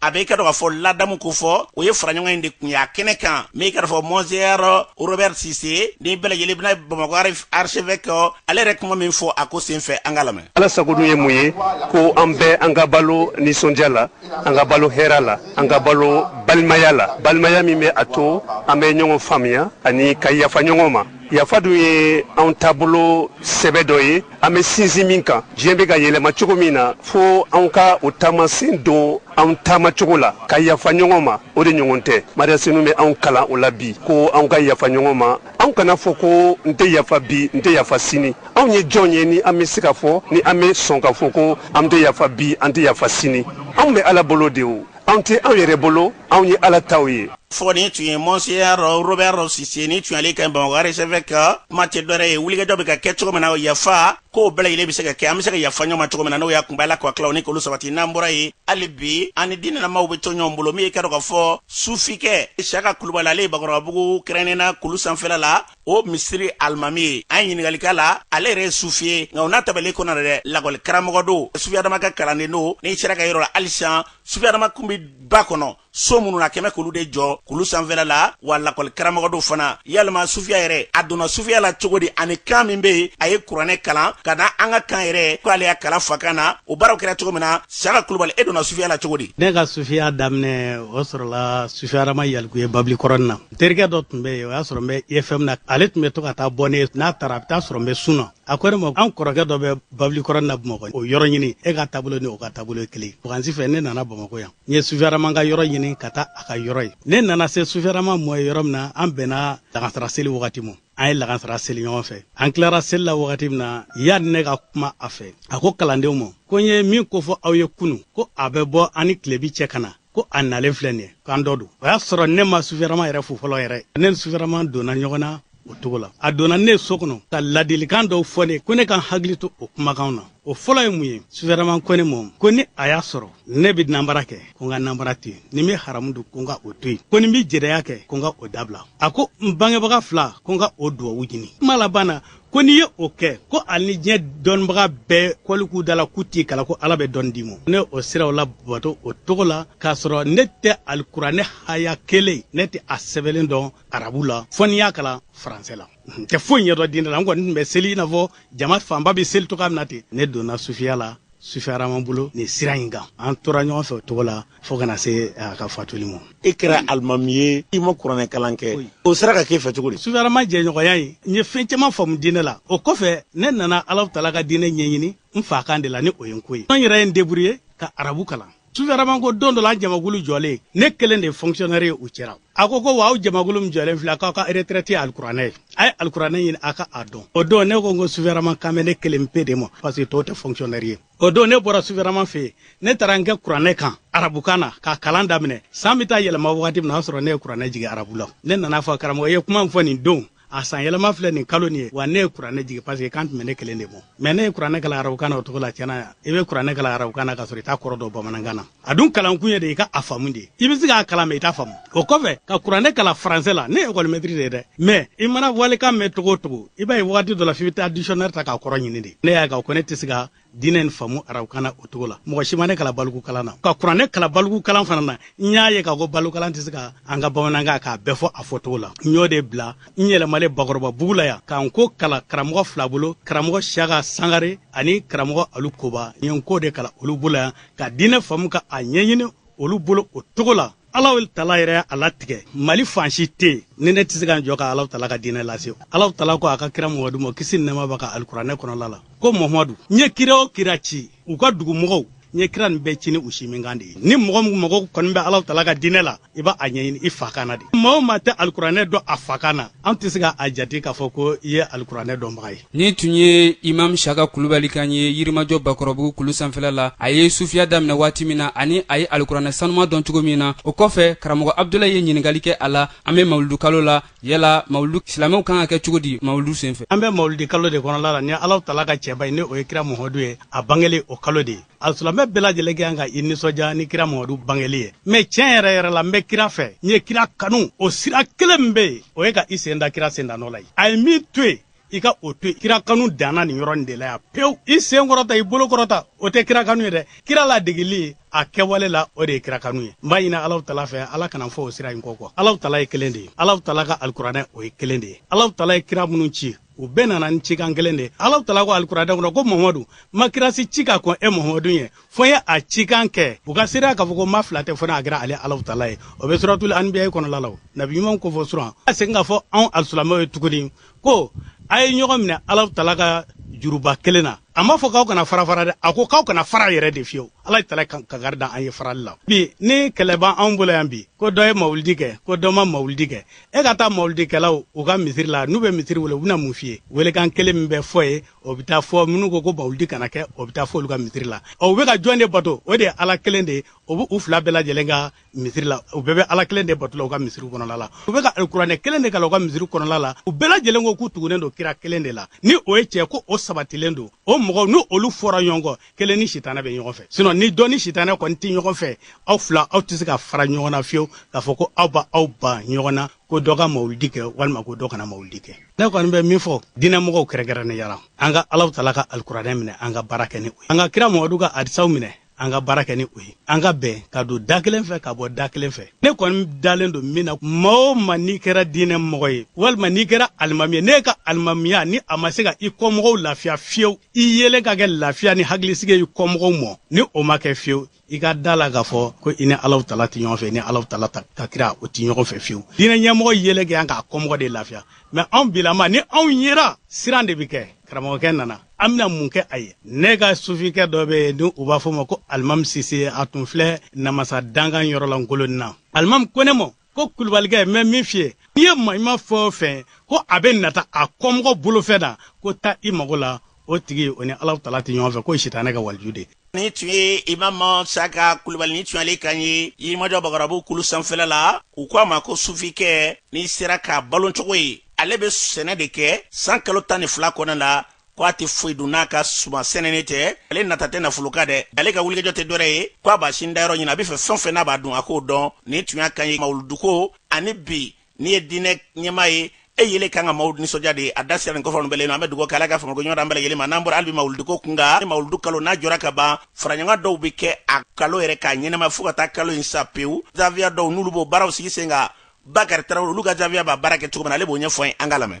a bɛ i k'a dɔn k'a fɔ ladamu ko fɔ o ye faraɲɔgɔn in de kun y'a kɛnɛ kan min i k'a dɔn fɔ monseigneur robert sise ni bɛɛ lajɛlen bɛna bamakɔ archevêque ale yɛrɛ kuma min fɔ a ko senfɛ an ka lamɛn ala sago dun ye mun ye ko an bɛɛ an ka balo nisɔndiya la an ka balo hɛra la an ka balo balimaya la balimaya min bɛ a to an bɛ ɲɔgɔn faamuya ani ka yafa ɲɔgɔn ma yafa dun ye anw taabolo sɛbɛ dɔ ye an bɛ sinsin min kan diɲɛ bɛ ka yɛlɛma cogo min na fo anw ka o taamasen don anw taama cogo la ka yafa ɲɔgɔn ma o de ɲɔgɔn tɛ mariya senu bɛ anw kalan o la bi ko anw ka yafa ɲɔgɔn ma anw kana fɔ ko n tɛ yafa bi n tɛ yafa sini anw ye jɔn ye ni an bɛ se k'a fɔ ni an bɛ sɔn k'a fɔ ko an tɛ yafa bi an tɛ yafa sini anw bɛ ala bolo de o anw tɛ anw yɛrɛ bolo anw ye ala taw ye fɔ nin tun ye monseigneur robert sise ni tun y'ale kan ye bamakɔ archevêque ka kuma tɛ dɔwɛrɛ ye wulikajɔ bɛ ka kɛ cogo min na yafa ko bɛɛ lajɛlen bɛ se ka kɛ an bɛ se ka yafa ɲɔgɔn ma cogo min na n'o y'a kunba la kɔ tilaw ni k'olu sabati n'an bɔra yen hali bi an ni diinɛlamaw bɛ to ɲɔgɔn bolo min ye k'a dɔn k'a fɔ sufikɛ siyaka kulubali ale ye bakɔrɔbabugu kɛrɛnnena kulu sanfɛla la o misiri alimami ye an ye ɲininkali k'a la ale yɛrɛ ye sufi ye nka o n'a ta bɛɛ de kɔnɔ dɛ lakɔli karamɔgɔ don sufi adama ka kalanden don n'i sera a ka yɔrɔ la halisa sufi adama kun bɛ ba kɔnɔ so minnu na kɛmɛ k'olu de jɔ kulu sanfɛla la wa lakɔli karamɔgɔ don fana yalima sufiya yɛrɛ a donna sufiya la cogo di ani kan min bɛ yen a ye kuranɛ kalan ka na an ka kan yɛrɛ ko ale y'a kalan fakan na o baaraw kɛra cogo min na siyaka kulubali e donna sufiya la cogo di ne ka sufiya daminɛ o sɔrɔla sufi adama yalikuye babili kɔrɔni na N terikɛ dɔ tun bɛ yen o y'a sɔrɔ n bɛ IFM na ale tun bɛ to ka taa bɔ ne ye n'a taara a bɛ taa sɔrɔ n bɛ sun na a ko ne ma an kɔrɔkɛ dɔ bɛ babilikɔrɔnin na bamakɔ o yɔrɔ ɲini e ka taabolo ni o ka taabolo ye kelen vacances fɛ ne nana bamakɔ yan n ye sufi adama ka yɔrɔ ɲini ka taa a ka yɔrɔ ye ne nana se sufi adama ma yen yɔrɔ min na an bɛnna lagansara seli wagati ma an ye lagansara seli ɲɔgɔn fɛ an tilara seli la wagati min na yanni ne ka kuma a fɛ a ko kalandenw ma ko n ye min ko fɔ aw ye kunun ko a bɛ bɔ an ni tilebi cɛ ka na ko a nalen filɛ nin ye k'an dɔ don o y'a sɔrɔ ne ma sufi adama yɛrɛ fo fɔlɔ yɛrɛ ne ni sufi adama donna ɲɔgɔn na o cogo la a donna ne so kɔnɔ ka ladilikan dɔw fɔ ne ko ne ka n hakili to o kumakanw na o fɔlɔ ye mun ye sufi adama ko ne ma ko ni a y'a sɔrɔ ne bɛ nanbara kɛ ko n ka nanbara to yen ni n bɛ haramu dun ko n ka o to yen ko ni n bɛ jɛnɛya kɛ ko n ka o dabila a ko n bangebaga fila ko n ka o duwawu ɲini kuma laban na ko n'i ye o kɛ ko ali ni diɲɛ dɔnnibaga bɛɛ kɔli k'u da la k'u t'i kalan ko ala bɛ dɔnni d'i ma ne o siraw labato o cogo la k'a sɔrɔ ne tɛ alikuranɛ haya kelen ne tɛ a sɛbɛnlen dɔn arabu la fo n'i y'a kalan faransɛ la n tɛ foyi ɲɛdɔn diinɛ la n kɔni tun bɛ seli i n'a fɔ jama fanba bɛ seli cogoya min na ten ne donna sufiya la sufi adama bolo nin sira in kan an tora ɲɔgɔn fɛ o cogo la fo ka na se a ka fatuli ma e kɛra alimami ye i ma kuranɛ kalan kɛ o sera ka k'e fɛ cogo di sufi adama jɛɲɔgɔnya ye n ye fɛn caman faamu diinɛ la o kɔfɛ ne nana alahu taala ka diinɛ ɲɛɲini n fa kan de la ni o ye nko ye n yɛrɛ ye n deburuye ka arabu kalan sufi adama ko don dɔ la an jamakulu jɔlen ne kelen de ye fonkisiyɔnɛri ye u cɛra a ko ko wa aw jamakulu min jɔlen filɛ k'aw ka retraite ye alikuranɛ ye a ye alikuranɛ ɲini a ka a dɔn o don ne ko n ko sufi adama kan bɛ ne kelen pe de ma parce que tɔw tɛ fonkisiyɔnɛri ye o don ne bɔra sufi adama fɛ yen ne taara n kɛ kuranɛ kan arabukan na k'a kalan daminɛ san bɛ taa yɛlɛma wagati min na o y'a sɔrɔ ne ye kuranɛ jigin arabu la ne nana a fɔ karamɔgɔ ye kuma min fɔ nin don a san yɛlɛma filɛ nin kalo nin ye wa ne ye kuranɛ jigin parce que kan tun bɛ ne kelen de ma mɛ ne ye kuranɛ kalan arabukan na o cogo la tiɲɛ na i bɛ kuranɛ kalan arabukan na k'a sɔrɔ i t'a kɔrɔ dɔn bamanankan na a dun kalankun ye de i ka a faamu de i bɛ se k'a kalan mɛ i t'a faamu o kɔfɛ ka kuranɛ kalan faransɛ la ne ye ekɔlimɛtiri de ye dɛ mɛ i mana walikan mɛn cogo o cogo i b'a ye wagati dɔ la f'i bɛ taa dictionnaire ta k'a kɔrɔ ɲini de ne y'a ye k'a ko ne tɛ se ka diinɛ in faamu arabukan na o cogo la mɔgɔ si ma ne kalan balikukalan na ka kuranɛ kalan balikukalan fana na n y'a ye k'a ko balikukalan tɛ se ka an ka bamanankan k'a bɛɛ fɔ a fɔcogo la n y'o de bila n yɛlɛmalen bakɔrɔbabugu la yan ka nko kalan karamɔgɔ fila bolo karamɔgɔ siyaka sangare ani karamɔgɔ alu koba n ye nko de kalan olu bolo yan ka diinɛ faamu ka a ɲɛɲini olu bolo o cogo la alahu taala yɛrɛ y'a latigɛ mali fan si tɛ yen ni ne tɛ se ka n jɔ ka alahu taala ka diinɛ lase alahu taala ko a ka kira mamadu ma kisi ni nɛɛma b'a kan alikuranɛ kɔnɔla la ko mamadu n ye kira o kira ci u ka dugumɔgɔw n ye kira nin bɛɛ ci ni u sinminkan de ye ni mɔgɔ o mɔgɔ kɔni bɛ alahu taala ka diinɛ la i b'a ɲɛɲini i fa kan na de maa o maa tɛ alikuranɛ dɔn a fa kan na an tɛ se ka a jate k'a fɔ ko i ye alikuranɛ dɔnbaga ye nin tun ye imam saka kulubali kan ye yirimajɔ bakɔrɔbugu kulu sanfɛla la a ye sufiya daminɛ waati min na ani a ye alikuranɛ sanuma dɔn cogo min na o kɔfɛ karamɔgɔ abudulayi ye ɲininkali kɛ a la an bɛ mawuludukalo la yala mawuludu silamɛw kan ka kɛ cogo di mawuludu senfɛ an bɛ mawuludikalo de kɔnɔla la ni alaw tala ka cɛba ye ni o ye kira muhamadu ye a bangelen o kalo de ye alisilamɛ bɛɛ lajɛlen kan ka i nisɔndiya ni kira muhamadu bangeli ye mɛ tiɲɛ yɛrɛ yɛrɛ la n bɛ kira fɛ n ye kira kanu o sira kelen min bɛ yen o ye ka i sen da kira sendanɔ la ye a ye min to yen i ka o to yen kira kanu danna nin yɔrɔ nin de la yan pewu i sen kɔrɔta i bolo kɔrɔta o tɛ kira kanu ye dɛ kira ladegeli a kɛwale la o de ye kira kanu ye n b'a ɲini alaw tala fɛ ala kana fɔ o sira in kɔ kɔ alaw tala ye kelen de ye alaw tala ka alikuranɛ o ye kelen de ye alaw tala ye kira minnu ci u bɛɛ nana ni cikan kelen de ye alaw tala ko alikuranɛ kɔnɔ ko mamadu ma kira si ci ka kɔn e mamadu ye fo n ye a cikan kɛ u ka seereya k'a fɔ ko ma fila tɛ fo n'a kɛra ale alaw tala ye o bɛ suratul anbiya kɔnɔla la nabi ɲumanw ko fɔ suran a segin k'a fɔ anw alisilamɛw ye tuguni ko a ye ɲɔgɔn minɛ alaw tala ka juruba kelen na a m'a fɔ k'aw kana fara fara dɛ a ko k'aw kana fara yɛrɛ de fiyewu ala tala kangari da an ye farali la bi ni kɛlɛ b'an anw bolo yan bi ko dɔ ye mawulidi kɛ ko dɔ ma mawulidi kɛ e ka taa mawulidikɛlaw u ka misiri la n'u bɛ misiri wele u bɛna mun f'i ye welekan kelen min bɛ fɔ yen o bɛ taa fɔ minnu ko ko mawuludi kana kɛ o bɛ taa fɔ olu ka misiri la ɔ u bɛ ka jɔn de bato o de ye ala kelen de ye o bɛ u fila bɛɛ lajɛlen ka misiri la u bɛɛ bɛ ala kelen de bato la u ka misiri kɔnɔla la u bɛ ka alikuranɛ kelen de kalan u ka misiri kɔnɔla la u bɛɛ lajɛlen ko k'u tugunen don kira kelen de la ni o ye cɛ ko o sabatilen don o mɔgɔw ni olu fɔra ɲɔgɔn kɔ kelen ni sitanɛ bɛ ɲɔgɔn fɛ sinɔ ni dɔ ni sitanɛ kɔni tɛ ɲɔgɔn fɛ aw fila aw tɛ se ka fara ɲɔgɔn na fiyewu k'a fɔ ko aw b'aw ban ɲɔgɔn na ko dɔ ka mawulidi kɛ walima ko dɔ kana mawulidi kɛ ne kɔni bɛ min fɔ diinɛmɔgɔw kɛrɛnkɛrɛnnenya la an ka alaw tala ka alikuranɛ minɛ an ka baara kɛ ni o ye an ka kira mamadu ka hadisaw minɛ an ka baara kɛ ni o ye an ka bɛn ka don da kelen fɛ ka bɔ da kelen fɛ ne kɔni dalen don min na maa o maa n'i kɛra diinɛ mɔgɔ ye walima n'i kɛra alimami ye n'e ka alimamiya ni a ma se ka i kɔmɔgɔw lafiya fiyewu i yelen ka kɛ lafiya ni hakilisigi ye i kɔmɔgɔw ma ni o ma kɛ fiyewu i ka da la k'a fɔ ko i ni alaw tala tɛ ɲɔgɔn fɛ i ni alaw tala ka kira o tɛ ɲɔgɔn fɛ fiyewu diinɛ ɲɛmɔgɔ yelen kan k'a kɔmɔgɔ de lafiya mɛ anw bilama ni anw yera siran de bɛ kɛ karamɔgɔkɛ nana an bɛna mun kɛ a ye ne ka sufikɛ dɔ bɛ yen ni u b'a fɔ ma ko alimami sise a tun filɛ namasa dankan yɔrɔ la ngolonina alimami ko ne ma ko kulubalikɛ n bɛ min f'i ye n'i ye maɲuman fɛn o fɛn ko a bɛ nata a kɔmɔgɔ bolofɛn na k'o ta i mago la o tigi o ni ala tala tɛ ɲɔgɔn fɛ k'o ye sitanɛ ka waliju de nin tun ye imam saka kulubali nin tun y'ale kan ye yirimajɔ bakɔrɔbugu kulu sanfɛla la u ko a ma ko sufikɛ n'i sera k'a balocogo ye ale bɛ sɛnɛ de kɛ san kalo tan ni fila kɔnɔ la ko a tɛ foyi dun n'a ka suman sɛnɛni tɛ ale nata tɛ nafolo kan dɛ ale ka wulikajɔ tɛ dɔwɛrɛ ye ko a b'a sin dayɔrɔ ɲini a bɛ fɛ fɛn o fɛn n'a b'a dun a k'o dɔn nin tun y'a kan ye mawuluduko ani bi n'i ye diinɛ ɲɛmaa ye e yele kan ka maaw nisɔndiya de a da sera nin kɔfɛ bɛlen an bɛ dugawu k'ala ka fangako nɔgɔya an bɛɛ ma n'an bɔra hali bi mawuluduko kun kan ni mawuludu kalo n'a jɔra ka ban faraɲɔgɔn dɔw bɛ kɛ a kalo yɛrɛ k'a ɲɛnama fo ka taa kalo in sa pewu zawiya dɔw n'olu b'o baaraw sigi sen kan bakari tarawele olu ka zawiya b'a baara kɛ cogo min na ale b'o ɲɛfɔ an k'a lamɛn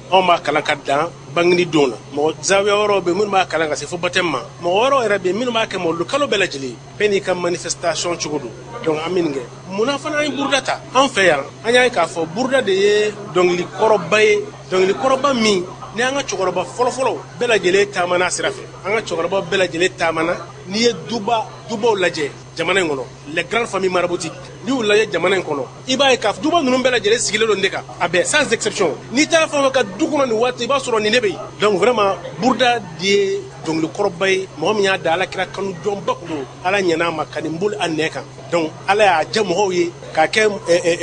anw b'a kalan ka dan bangeni don na mɔgɔ zawiya wɛrɛw bɛ minnu b'a kalan ka se fo baptême ma mɔgɔ wɛrɛw yɛrɛ bɛ minnu b'a kɛ mawuludu kalo bɛɛ lajɛlen bɛɛ n'i ka manifestation cogo don donc an bɛ nin kɛ munna fana an ye buruda ta an fɛ yan an y'a ye k'a fɔ buruda de ye dɔnkili kɔrɔba ye dɔnkili kɔrɔba min ni an ka cɛkɔrɔba fɔlɔfɔlɔ bɛɛ lajɛlen taamana a sira fɛ an ka cɛkɔrɔba bɛɛ lajɛlen taamana n'i ye duba dubaw lajɛ jamana in kɔnɔ les grandes familles maraboutiques n'i y'u lajɛ jamana in kɔnɔ i b'a ye ko duba ninnu bɛɛ lajɛlen sigilen don nin ne kan a bɛɛ sans exception n'i taara fɛn o fɛn ka du kɔnɔ nin waati i b'a sɔrɔ nin ne bɛ yen donc vraiment buruda de ye dɔnkili kɔrɔba ye mɔgɔ min y'a da ala kira kanu jɔnba kun don ala ɲɛna a ma ka nin boli a nɛn kan donc ala y'a diya mɔgɔw ye k'a kɛ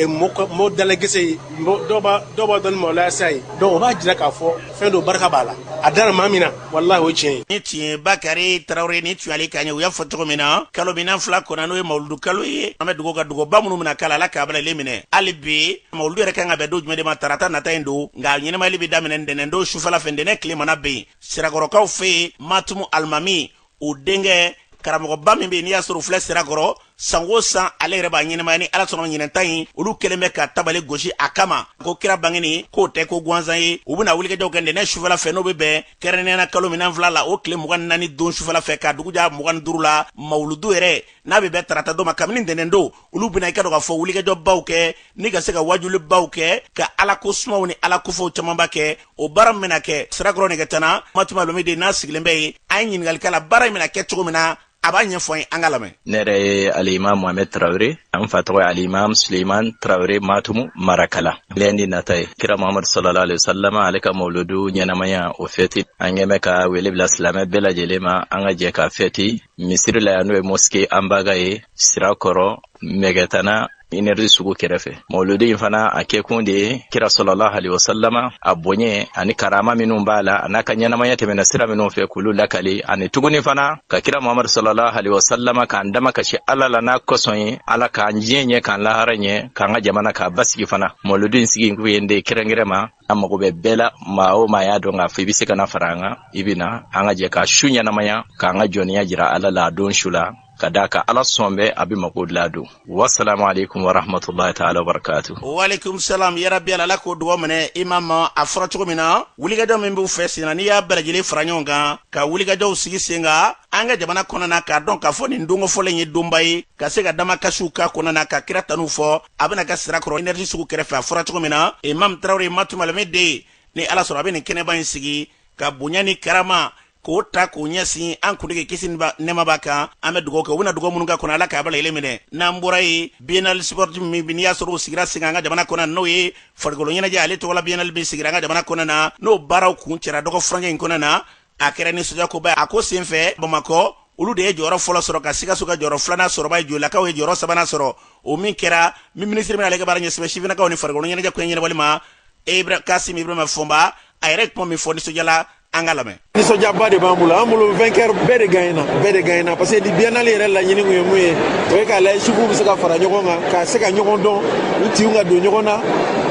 mɔɔ dalagɛsɛ ye dɔw b'a dɔn ni mɔlaya sa ye donc o b'a jira k'a fɔ fɛn don barika b'a la a dara maa min na walahi o ye tiɲɛ ye nin tun ye bakari tarawele nin tun y'ale kan ye u y'a fɔ cogo min na kalo minan fila kɔnɔ n'o ye mawuludu kalo ye an bɛ dugawu kɛ dugawu minnu bɛna k'a la ala k'a bɛɛ lajɛlen minɛ hali bi mawuludu yɛrɛ kan ka bɛn don jumɛn de ma tarata nata in don nka ɲɛnamayali bɛ daminɛ ntɛnɛndon sufɛla fɛ ntɛnɛn tile mana bin sirakɔrɔkaw fɛ yen matumu alimami o denkɛ karamɔgɔba min bɛ yen n'i y'a sɔrɔ u filɛ sirakɔrɔ san o san ale yɛrɛ b'a ɲɛnamaya ni ala sɔnna ɲinanta in olu kɛlen bɛ ka tabali gosi a kama ko kira bangeni k'o tɛ ko gansan ye u bɛna wulikajɔw kɛ ntɛnɛn sufɛla fɛ n'o bɛ bɛn kɛrɛnkɛrɛnnenya kalo minɛn fila la o tile mugan ni naani don sufɛla fɛ ka dugu jɛ mugan ni duuru la mawuludu yɛrɛ n'a bɛ bɛn tarata don ma kabini ntɛnɛn don olu bɛna i k'a dɔn k'a fɔ wulikajɔbaw kɛ ni ka se ka wajulibaw kɛ ka ala ko sumaw ni ala kofɔw camanba kɛ o baara min bɛna kɛ sirakɔrɔ mɛgɛtana matumu alimami de n'a sigilen bɛ yen an ye ɲininkali k'a la baara in bɛna kɛ cogo min na a b'a ɲɛfɔ an ye an k'a lamɛn ne yɛrɛ ye alimam mohamɛd tarawele an fa tɔgɔ ye alimam suleiman tarawele matumu marakala lundi nata ye kira mohamadu salalahu aleyihi wasalama ale ka mawuludu ɲɛnamaya o fɛti an ɲɛmɛ ka wele bila silamɛ bɛɛ lajɛlen ma an ka jɛ ka fɛti misiri la yan n'o ye mosquée anbaga ye sirakɔrɔ mɛgɛtana énergie sugu kɛrɛfɛ mawuludi in fana a kɛkun de ye kira salalahu aleyihi wasalama a boɲɛ ani karama minnu b'a la a n'a ka ɲɛnamaya tɛmɛna sira minnu fɛ k'olu lakali ani tuguni fana ka kira muhamadu salalahu aleyihi wasalama k'an dama kasi ala la n'a kosɔn ye ala k'an diɲɛ ɲɛ k'an lahara ɲɛ k'an ka jamana k'a basigi fana mawuludi in sigi kun ye de kɛrɛnkɛrɛ ma an mago bɛ bɛɛ la maa o maa y'a dɔn k'a fɔ i bɛ se ka na fara an kan i bɛ na an ka jɛ ka su ɲɛnamaya k'an ka jɔnya jira ala la a don su la ka d'a kan ala sɔn bɛ a bɛ mako dilan don wasalaamu aleykum warahmatulahi taala wabarakatu. waaleykum salaam yarabi ala k'o dugawu minɛ imam a fɔra cogo min na wulikajɔ min b'u fɛ senna n'i y'a bɛɛ lajɛlen fara ɲɔgɔn kan ka wulikajɔw sigi sen kan an ka jamana kɔnɔna k'a dɔn k'a fɔ nin don kofɔlen ye donba ye ka se ka damakasiw k'a kɔnɔna ka kira tanuw fɔ a bɛna kɛ sirakɔrɔ énergie sugu kɛrɛfɛ a fɔra cogo min na imam traoré matumalame de ni ala sɔrɔ a bɛ nin kɛnɛba in sigi ka bonya ni karama k'o ta k'o ɲɛsin an kuntigi kisi ni nɛɛma b'a kan an bɛ dugawu kɛ u bɛna dugawu minnu k'a kɔnɔ ala k'a bɛɛ lajɛlen minɛ n'an bɔra yen biennale sportive min n'i y'a sɔrɔ o sigira sen kan an ka jamana kɔnɔ n'o ye farikolo ɲɛnajɛ ale tɔgɔla biennale min sigira an ka jamana kɔnɔ na n'o baaraw kuncɛra dɔgɔ furancɛ in kɔnɔ na a kɛra nisɔndiyakoba a ko senfɛ bamakɔ olu de ye jɔyɔrɔ fɔlɔ sɔrɔ ka sikaso ka jɔyɔrɔ filanan sɔrɔ joyilakaw ye jɔyɔrɔ sabanan sɔrɔ o min kɛra min minisiri min ale ka baara ɲɛsinnen bɛ sifinnakaw ni farikolo ɲɛnajɛ ko ɲɛnabɔli ma abdul kasim ibrahima fɔnba a yɛrɛ kuma min fɔ nisɔndiyala an ka lamɛn nisɔndiyaba de b'an bolo an bolo vainqueur bɛɛ de gagnena bɛɛ de gagnena parce que ni biennale yɛrɛ laɲini kun ye mun ye o ye k'a lajɛ suguw bɛ se ka fara ɲɔgɔn kan ka se ka ɲɔgɔn dɔn u tinw ka don ɲɔgɔn na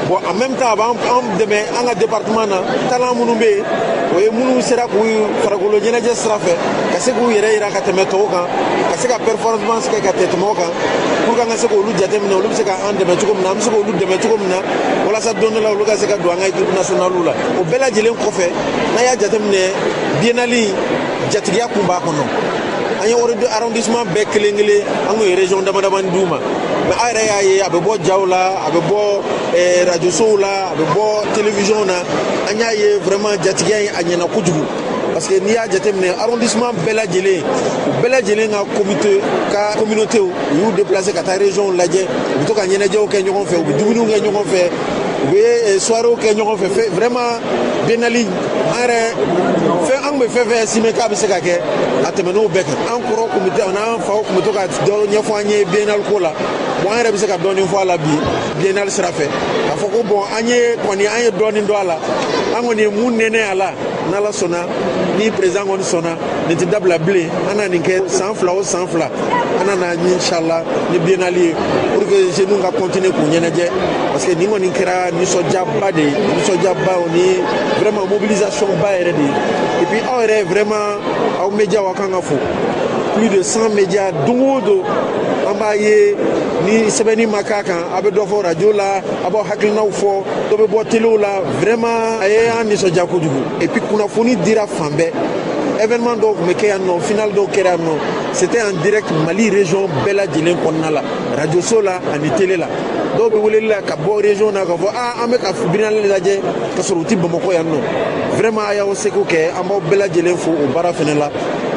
bon en même temps a b'an dɛmɛ an ka département na talent minnu bɛ yen o ye minnu sera k'u farikolo ɲɛnajɛ sira fɛ ka se k'u yɛrɛ yira ka tɛmɛ tɔw kan ka se ka performance kɛ ka tɛmɛ o kan pour que an ka se k'olu jateminɛ olu bɛ se ka an dɛmɛ cogo min na an bɛ se k'olu dɛmɛ cogo min na walasa don dɔ la olu ka se ka don an ka équipe nationale la o bɛɛ lajɛlen kɔfɛ n'a y'a jateminɛ biennale in jatigiya kun b'a kɔnɔ an ye arrondissement bɛɛ kelen kelen an kun ye région damadamanin d'u ma mais a yɛrɛ y'a ye a bɛ bɔ jaw la a bɛ bɔ eh, rajosow la a bɛ bɔ télévision na an y'a ye vraiment jatigiya ye a ɲɛna kojugu parce que n'i y'a jateminɛ arrondissement bɛɛ lajɛlen u bɛɛ lajɛlen ka comité ka communauté u y'u déplacer ka taa région lajɛ u bɛ to ka ɲɛnajɛw kɛ ɲɔgɔn fɛ u bɛ dumuniw kɛ ɲɔgɔn fɛ u bɛ eh, soiréew kɛ ɲɔgɔn fɛ vraiment biennale an yɛrɛ fɛ an kun bɛ fɛn fɛn estimer k'a bɛ se ka kɛ a tɛmɛn'o bɛɛ kan an kɔrɔw kun bɛ n'an faw kun bɛ to ka dɔ ɲɛfɔ an ye biennale ko la bon an yɛrɛ bɛ se ka dɔɔnin fɔ a la bi biennale sira fɛ k'a fɔ ko bon an ye kɔni an ye dɔɔnin dɔn a la an kɔni ye mun nɛnɛ a la n'ala sɔnna ni président kɔni sɔnna nin tɛ dabila bilen an na nin kɛ san fila o san fila an na na inshallah ni biennale ye pour que jeunes ka continuer k'u ɲɛnajɛ parce que nin kɔni kɛra nisɔndiyaba de ye nisɔndiyaba o ni vraiment mobilisation ba yɛrɛ de ye et puis aw yɛrɛ vraiment aw média aw kan ka fo plus de 100 médias don o don an b'a ye ni sɛbɛnni ma k'a kan a bɛ dɔ fɔ radio la a b'aw hakilinaw fɔ dɔ bɛ bɔ telew la vraiment a ye an nisɔndiya kojugu et puis kunnafoni dira fan bɛɛ événement dɔw tun bɛ kɛ yan nɔ final dɔw kɛra yan nɔ c'était en direct mali région bɛɛ lajɛlen kɔnɔna la radio so la ani télé la dɔw bɛ weleli la ka bɔ région na k'a fɔ aa an bɛ ka biennale lajɛ ka sɔrɔ u tɛ bamakɔ yan nɔ vraiment a y'aw seko kɛ an b'aw bɛɛ lajɛlen fo o baara fana la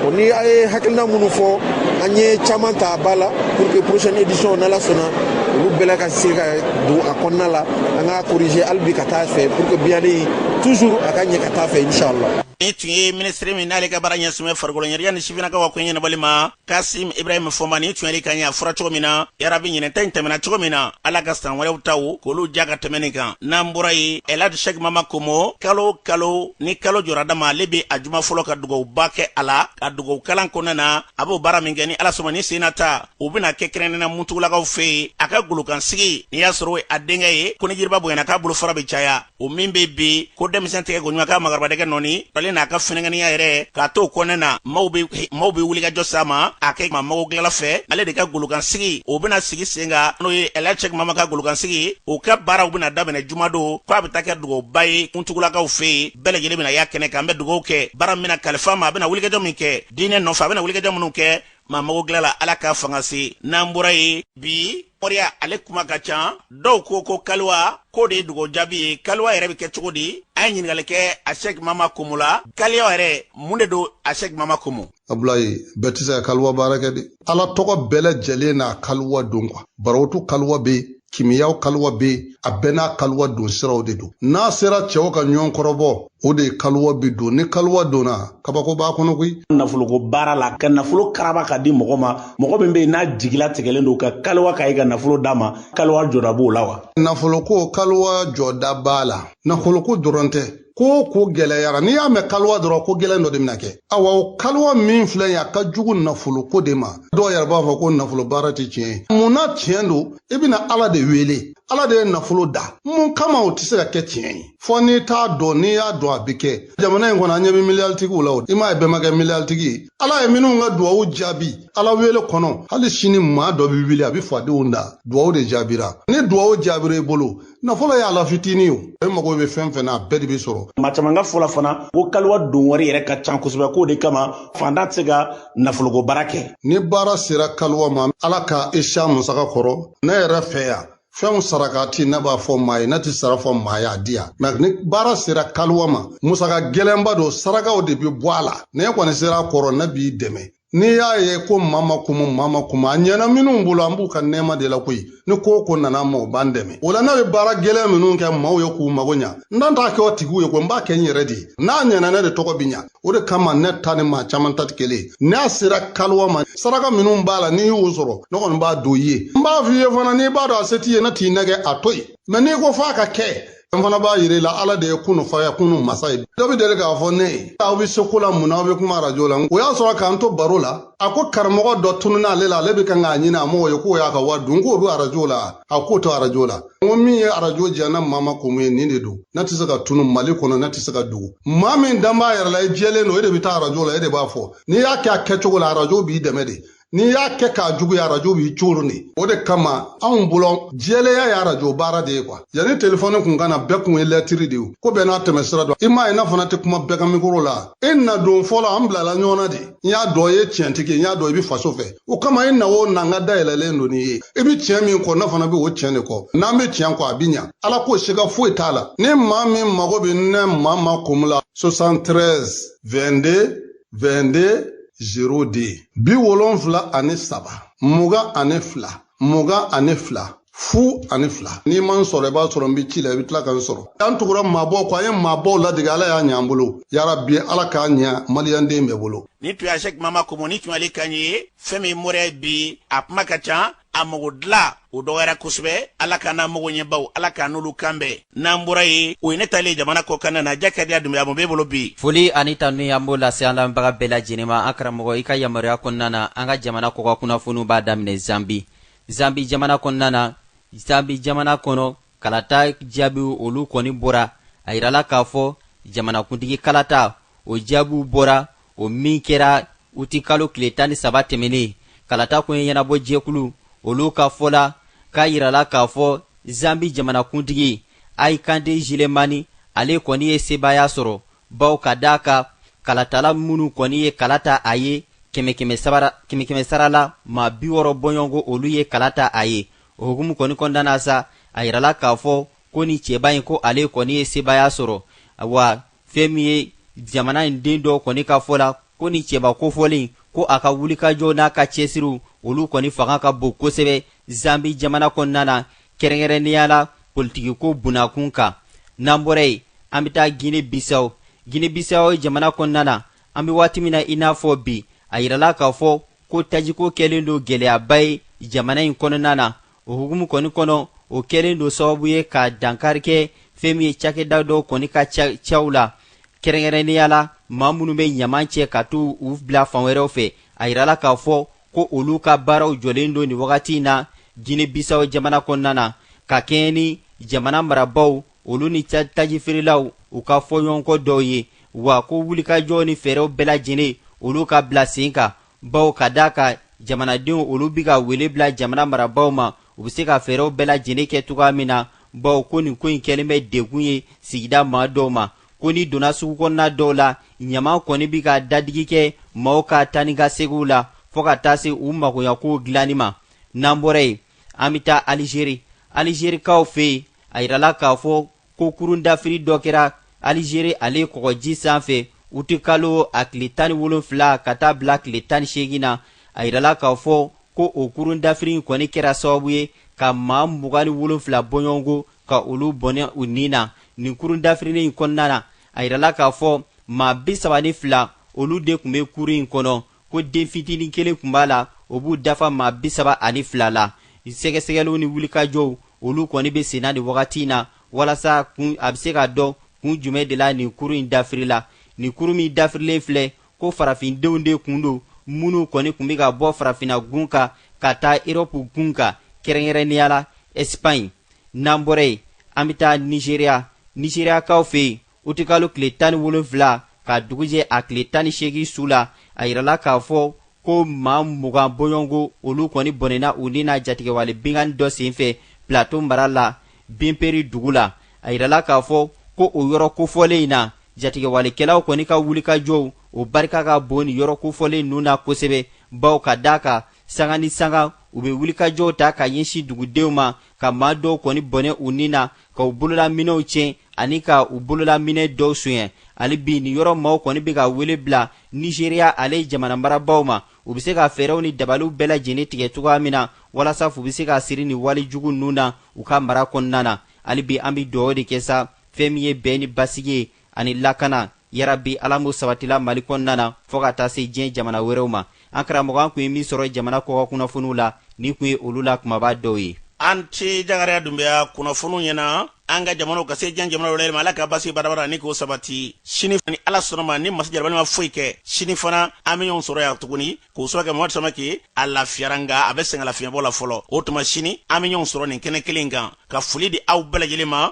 o ni a ye hakilina minnu fɔ an ye caman ta ba la pour que prochaine édition n'ala sɔnna olu bɛɛ la ka se ka don a kɔnɔna la an k'a corriger hali bi ka taa fɛ pour que biennale toujours a ka ɲɛ ka taa fɛ inshallah nin tun ye minisiri min n'ale ka baara ɲɛsinnen bɛ farikolo ɲɛnajɛ ni sifinakaw ka ko ɲɛnabɔli ma kasim ibrahim fɔnba nin tun y'ale kan ye a fɔra cogo min na yarabi ɲinan ta in tɛmɛna cogo min na ala ka san wɛrɛw taw k'olu diya ka tɛmɛ nin kan n'an bɔra yen elhadj cheikh mama komo kalo o kalo ni kalo jɔra dama ale be a juma fɔlɔ ka dugawuba kɛ a la ka dugawukalan kɔnɔna na a b'o baara min kɛ ni ala sɔnna nin sen na ta u bɛna kɛ kɛrɛnnena muntugulakaw fɛ yen a ka golokansigi n'i y'a sɔrɔ a denkɛ ye ko ni jiriba bonyana k'a bolofara bɛ caya o min bɛ bi ko denmisɛn tɛgɛ ko ɲuman ka maakɔrɔba dɛgɛ nɔɔni ale n'a ka funankɛniya yɛrɛ k'a to kɔnɛ na maaw bɛ wulikajɔ s'a ma a kɛ maa mago dilanla fɛ ale de ka golokansigi o bɛna sigi sen kan n'o ye elhadj cheikh mama ka golokansigi o ka baaraw bɛna daminɛ jumadon ko a bɛ taa kɛ dugawuba ye muntugulakaw fɛ yen bɛɛ lajɛlen bɛna y'a kɛnɛ kan an bɛ dugawu kɛ baara min bɛna kalifa a ma a bɛna wulikajɔ min kɛ diinɛ nɔfɛ a bɛna wulikajɔ minnu kɛ maa mago dilan la ala k'a fanga se n'an bɔra yen bi moriya ale kuma ka ca dɔw ko ko kaliwa k'o de ye dugawu jaabi ye kaliwa yɛrɛ bɛ kɛ cogo di an ye ɲininkali kɛ asɛk mama komo la kaliwa yɛrɛ mun de don asɛk mama komo abulayi bɛɛ tɛ se ka kaliwa baara kɛ dɛ ala tɔgɔ bɛɛ lajɛlen n'a kaliwa don kuwa barotu kaliwa bɛ yen kimiyaw kaluwa be a bɛɛ n'a kaluwa don siraw de don n'a sera cɛw ka ɲɔgɔn kɔrɔbɔ o de kaluwa bi don ni kaluwa donna kabako b'a kɔnɔ koyi nafoloko baara la ka nafolo karaba ka di mɔgɔ ma mɔgɔ min be yen n'a jigila tigɛlen don ka kaluwa k'a ye ka nafolo d'a ma kaluwa jɔda b'o la wa nafoloko kaluwa jɔda b'a la nafoloko dɔrɔn tɛ ko ko gɛlɛyara n'i y'a mɛn kaliwa dɔrɔn ko gɛlɛn dɔ de bɛna kɛ awa o kaliwa min filɛ ye a ka jugu nafoloko de ma dɔw yɛrɛ b'a fɔ ko nafolo baara tɛ tiɲɛ ye mun na tiɲɛ don i bɛna ala de wele ala de ye nafolo da mun kama o tɛ se ka kɛ tiɲɛ ye fo n'i t'a dɔn n'i y'a dɔn a bɛ kɛ jamana in kɔnɔ an ɲɛ bɛ miliyaritigiw la o i m'a ye bɛɛ ma kɛ miliyalitigi ye ala ye minnu ka duwawu jaabi ala wele kɔnɔ hali sini maa dɔ bɛ wuli a bɛ fadenw dan duwawu de jaabira ni duwawu jaabira i bolo nafolo y'a la fitinin ye o e mago bɛ fɛn fɛn na a bɛɛ de bɛ sɔrɔ maa caman ka fɔ la fana ko kaliwa don wari yɛrɛ ka can kosɛbɛ k'o de kama fantan tɛ se ka nafoloko baara kɛ ni baara sera kaliwa ma ala ka e se a musaka kɔrɔ ne yɛrɛ fɛ yan fɛnw sarakati ne b'a fɔ maa ye ne ti sara fɔ maa y'a di yan mais ni baara sera kaliwa ma musaka gɛlɛnba don sarakaw de bɛ bɔ a la ne kɔni sera a kɔrɔ ne b'i dɛmɛ n'i y'a ye ko mama kumu mama kumu a ɲɛna minnu bolo an b'u ka nɛɛma de la koyi ni ko o ko nana an ma o b'an dɛmɛ o la ne bɛ baara gɛlɛn minnu kɛ maaw ye k'u mago ɲa n dan t'a kɛ o tigiw ye ko n b'a kɛ n yɛrɛ de ye n'a ɲɛna ne de tɔgɔ bi ɲa o de kama ne ta ni maa caman ta tɛ kelen ye n'a sera kaluwa ma saraka minnu b'a la n'i y'o sɔrɔ ne kɔni b'a don i ye n b'a f'i ye fana n'i b'a dɔn a se t'i ye ne t'i nɛgɛn a to yen mɛ n'i ko f'a ka kɛ An fana b'a yir'i la ala de ye kunu fayakunu masa ye dɔ bɛ deli k'a fɔ ne ye aw bɛ se ko la mun na aw bɛ kuma arajo la o y'a sɔrɔ k'an to baro la a ko karamɔgɔ dɔ tununna ale la ale bɛ kan k'a ɲini a mɔgɔ ye k'o y'a ka wari dun k'o bɛ arajo la a k'o to arajo la n ko min ye arajo diya ne mama kumu ye nin de don ne tɛ se ka tunun mali kɔnɔ ne tɛ se ka dogo maa min dan b'a yɛrɛ la i jɛlen don e de bɛ taa arajo la e de b'a fɔ n'i y'a kɛ a kɛcogo la arajo b'i dɛmɛ de n'i y'a kɛ k'a juguya arajo b'i coron de o de kama anw bolo jɛlenya ye arajo baara de ye kuwa yanni telefɔni kun ka na bɛɛ kun ye lɛtiri de ye ko bɛɛ n'a tɛmɛ sira don i m'a ye ne fana tɛ kuma bɛɛ ka mikoro la i na don fɔlɔ an bilala ɲɔgɔn na de n y'a dɔn i ye tiɲɛtigi ye n y'a dɔn i bɛ faso fɛ o kama i na o na n ka da yɛlɛlen don i ye i bɛ tiɲɛ min kɔ ne fana bɛ o tiɲɛ de kɔ n'an bɛ tiɲɛ kɔ a bɛ ɲa ala ko siga foyi t'a la ni maa min mago bɛ ne mama kumu la 73 22 22 02 biwolonfila ani saba mugan ani fila mugan ani fila fu ani fila n'i ma n sɔrɔ i b'a sɔrɔ n bɛ ci la i bɛ tila ka n sɔrɔ an tugura maabaw kɔ an ye maabaw ladege ala y'a ɲɛ an bolo yarabi ala k'a ɲɛ maliyanden bɛɛ bolo nin tun ye sɛk mama kumu nin tun y'ale kan ye fɛn min moriya bi a kuma ka ca a mago dilan o dɔgɔyara kosɛbɛ ala k'an n'an mago ɲɛbaw ala k'an n'olu kan bɛn n'an bɔra yen o ye ne taalen ye jamana kɔkan na jakadiya dumbuya mun b'e bolo bi foli ani tanu an b'o lase an lamɛnbaga bɛɛ lajɛlen ma an karamɔgɔ i ka yamaruya kɔnɔna na an ka jamana kɔkan kunnafoniw b'a daminɛ zambi zambi jamana kɔnɔna na zambi jamana kɔnɔ kalata jaabiw olu kɔni bɔra a yirala k'a fɔ jamanakuntigi kalata o jaabiw bɔra o min kɛra uti kalo tile tan ni saba tɛmɛnen kalata koɲɛ ɲɛnabɔ jɛkulu olu ka fɔ la k'a yirala k'a fɔ zambi jamanakuntigi hakainde hichilema ale kɔni ye sebaaya sɔrɔ bawo ka d'a kan kalatala minnu kɔni ye kala ta a ye kɛmɛ-kɛmɛ sara la maa biwɔrɔ bɔɲɔgɔnko olu ye kala ta a ye o hukumu kɔni kɔnɔna na sa a yirala k'a fɔ ko nin cɛba in ko ale kɔni ye sebaaya sɔrɔ wa fɛn min ye jamana in den dɔw kɔni ka fɔ la ko nin cɛba kofɔlen ko a ka wulikajɔw n'a ka cɛsiriw olu kɔni fanga ka bon kosɛbɛ zambi jamana kɔnɔna na kɛrɛnkɛrɛnnenya la politikiko bunakun kan n'an bɔra yen an bɛ taa gine bisawo gine bisawo jamana kɔnɔna na an bɛ waati min na i n'a fɔ bi a yirala k'a fɔ ko tajiko kɛlen don gɛlɛyaba ye jamana in kɔnɔna na o hukumu kɔni kɔnɔ o kɛlen don sababu ye ka dankari kɛ fɛn min ye cakɛda dɔw kɔni ka caw la kɛrɛnkɛrɛnnenya la maa minnu bɛ ɲaman cɛ ka t'u bila fan wɛrɛw fɛ a yirala k'a fɔ ko olu ka baaraw jɔlen don nin wagati in na gine bisaw jamana kɔnɔna na ka kɛɲɛ ni jamana marabaw olu ni tajifeerelaw u ka fɔɲɔgɔnkɔ dɔw ye wa ko wulikajɔw ni fɛɛrɛw bɛɛ lajɛlen olu ka bila sen kan baw ka da a kan jamanadenw olu bi ka wele bila jamana marabaaw ma u bɛ se ka fɛɛrɛw bɛɛ lajɛlen kɛ cogoya min na baw ko nin ko in kɛlen bɛ degun ye sigida maa dɔw ma ko n'i donna sugu kɔnɔna dɔw la ɲaman kɔni bi ka dadigi kɛ maaw ka taa ni ka segiw la fɔɔ ka taa se u magoyakow dilanni ma n'an bɔra yen an bɛ taa alizeri alizerikaw fɛ yen a yirala k'a fɔ ko kurun dafiri dɔ kɛra alizeri ale kɔgɔji sanfɛ utikalo a tile tan ni wolonfila ka taa bila tile tan ni seegin na a yirala k'a fɔ ko o kurun dafiri in kɔni kɛra sababu ye ka maa mugan ni wolonfila bɔɲɔgɔnko ka olu bɔnɛ u ni na nin kurun dafirilen in kɔnɔna na a yirala k'a fɔ maa bisaba ni fila olu de tun bɛ kurun in kɔnɔ ko den fitinin kelen kun b'a la o b'u dafa maa bisaba ani fila la sɛgɛsɛgɛliw ni wulikajɔw olu kɔni bɛ senna nin wagati in na walasa kun a bɛ se ka dɔn kun jumɛn de la nin kurun in dafirila nin kurun min dafirilen filɛ ko farafindenw de kun don minnu kɔni tun bɛ ka bɔ farafinna gun kan ka taa erɔpu gun kan kɛrɛnkɛrɛnnenya la ɛsipaɲi n'an bɔra yen an bɛ taa nizeriya nizeriyakaw fɛ yen utikalo tile tan ni wolonfila ka dugu jɛ a tile tan ni seegin su la a yirala k'a fɔ ko maa mugan bɔɲɔgɔnko olu kɔni bɔnɛna u ni na jatigɛwale binkanni dɔ senfɛ plateau mara la binperi dugu la a yirala k'a fɔ ko o yɔrɔ kofɔlen in na jatigɛwalekɛlaw kɔni ka wulikajɔw o barika ka bon nin yɔrɔ kofɔlen ninnu na kosɛbɛ baw ka da a kan sanga ni sanga u bɛ wulikajɔw ta ka ɲɛsin dugudenw ma ka maa dɔw kɔni bɔnɛ u ni na ka u bololaminɛw tiɲɛ ani ka u bololaminɛ dɔw sonyɛ hali bi nin yɔrɔ maaw kɔni bɛ ka wele bila nizeriya ale jamana marabaaw ma u bɛ se ka fɛɛrɛw ni dabaliw bɛɛ lajɛlen tigɛ cogoya min na walasa fu bɛ se ka siri nin wale jugu ninnu na u ka mara kɔnɔna na hali bi an bɛ dugawu de kɛ sa fɛn min ye bɛn ni basigi ye ani lakana yarabi ala m'o sabatila mali kɔnɔna na fɔɔ ka taa se diɲɛ jamana wɛrɛw ma an karamɔgɔ an kun ye min sɔrɔ jamana kɔkan kunnafoniw la nin kun ye olu la kunbaba dɔw ye a ni ce jakariya dunbiya kunnafoniw ɲɛna an ka jamanaw ka se diɲɛ jamana wɛrɛ ma ala ka basi barabara ni k'o sabati sini ni ala sɔnna a ma ni masa jalakibali ma foyi kɛ sini fana an bɛ ɲɔgɔn sɔrɔ yan tuguni k'o sɔrɔ kɛ mamadu samake a lafiyara nga a bɛ sɛgɛnlafiɲɛbɔ la fɔlɔ o tuma sini an bɛ ɲɔgɔn sɔrɔ nin kɛnɛ kelen kan ka foli di aw bɛɛ lajɛlen ma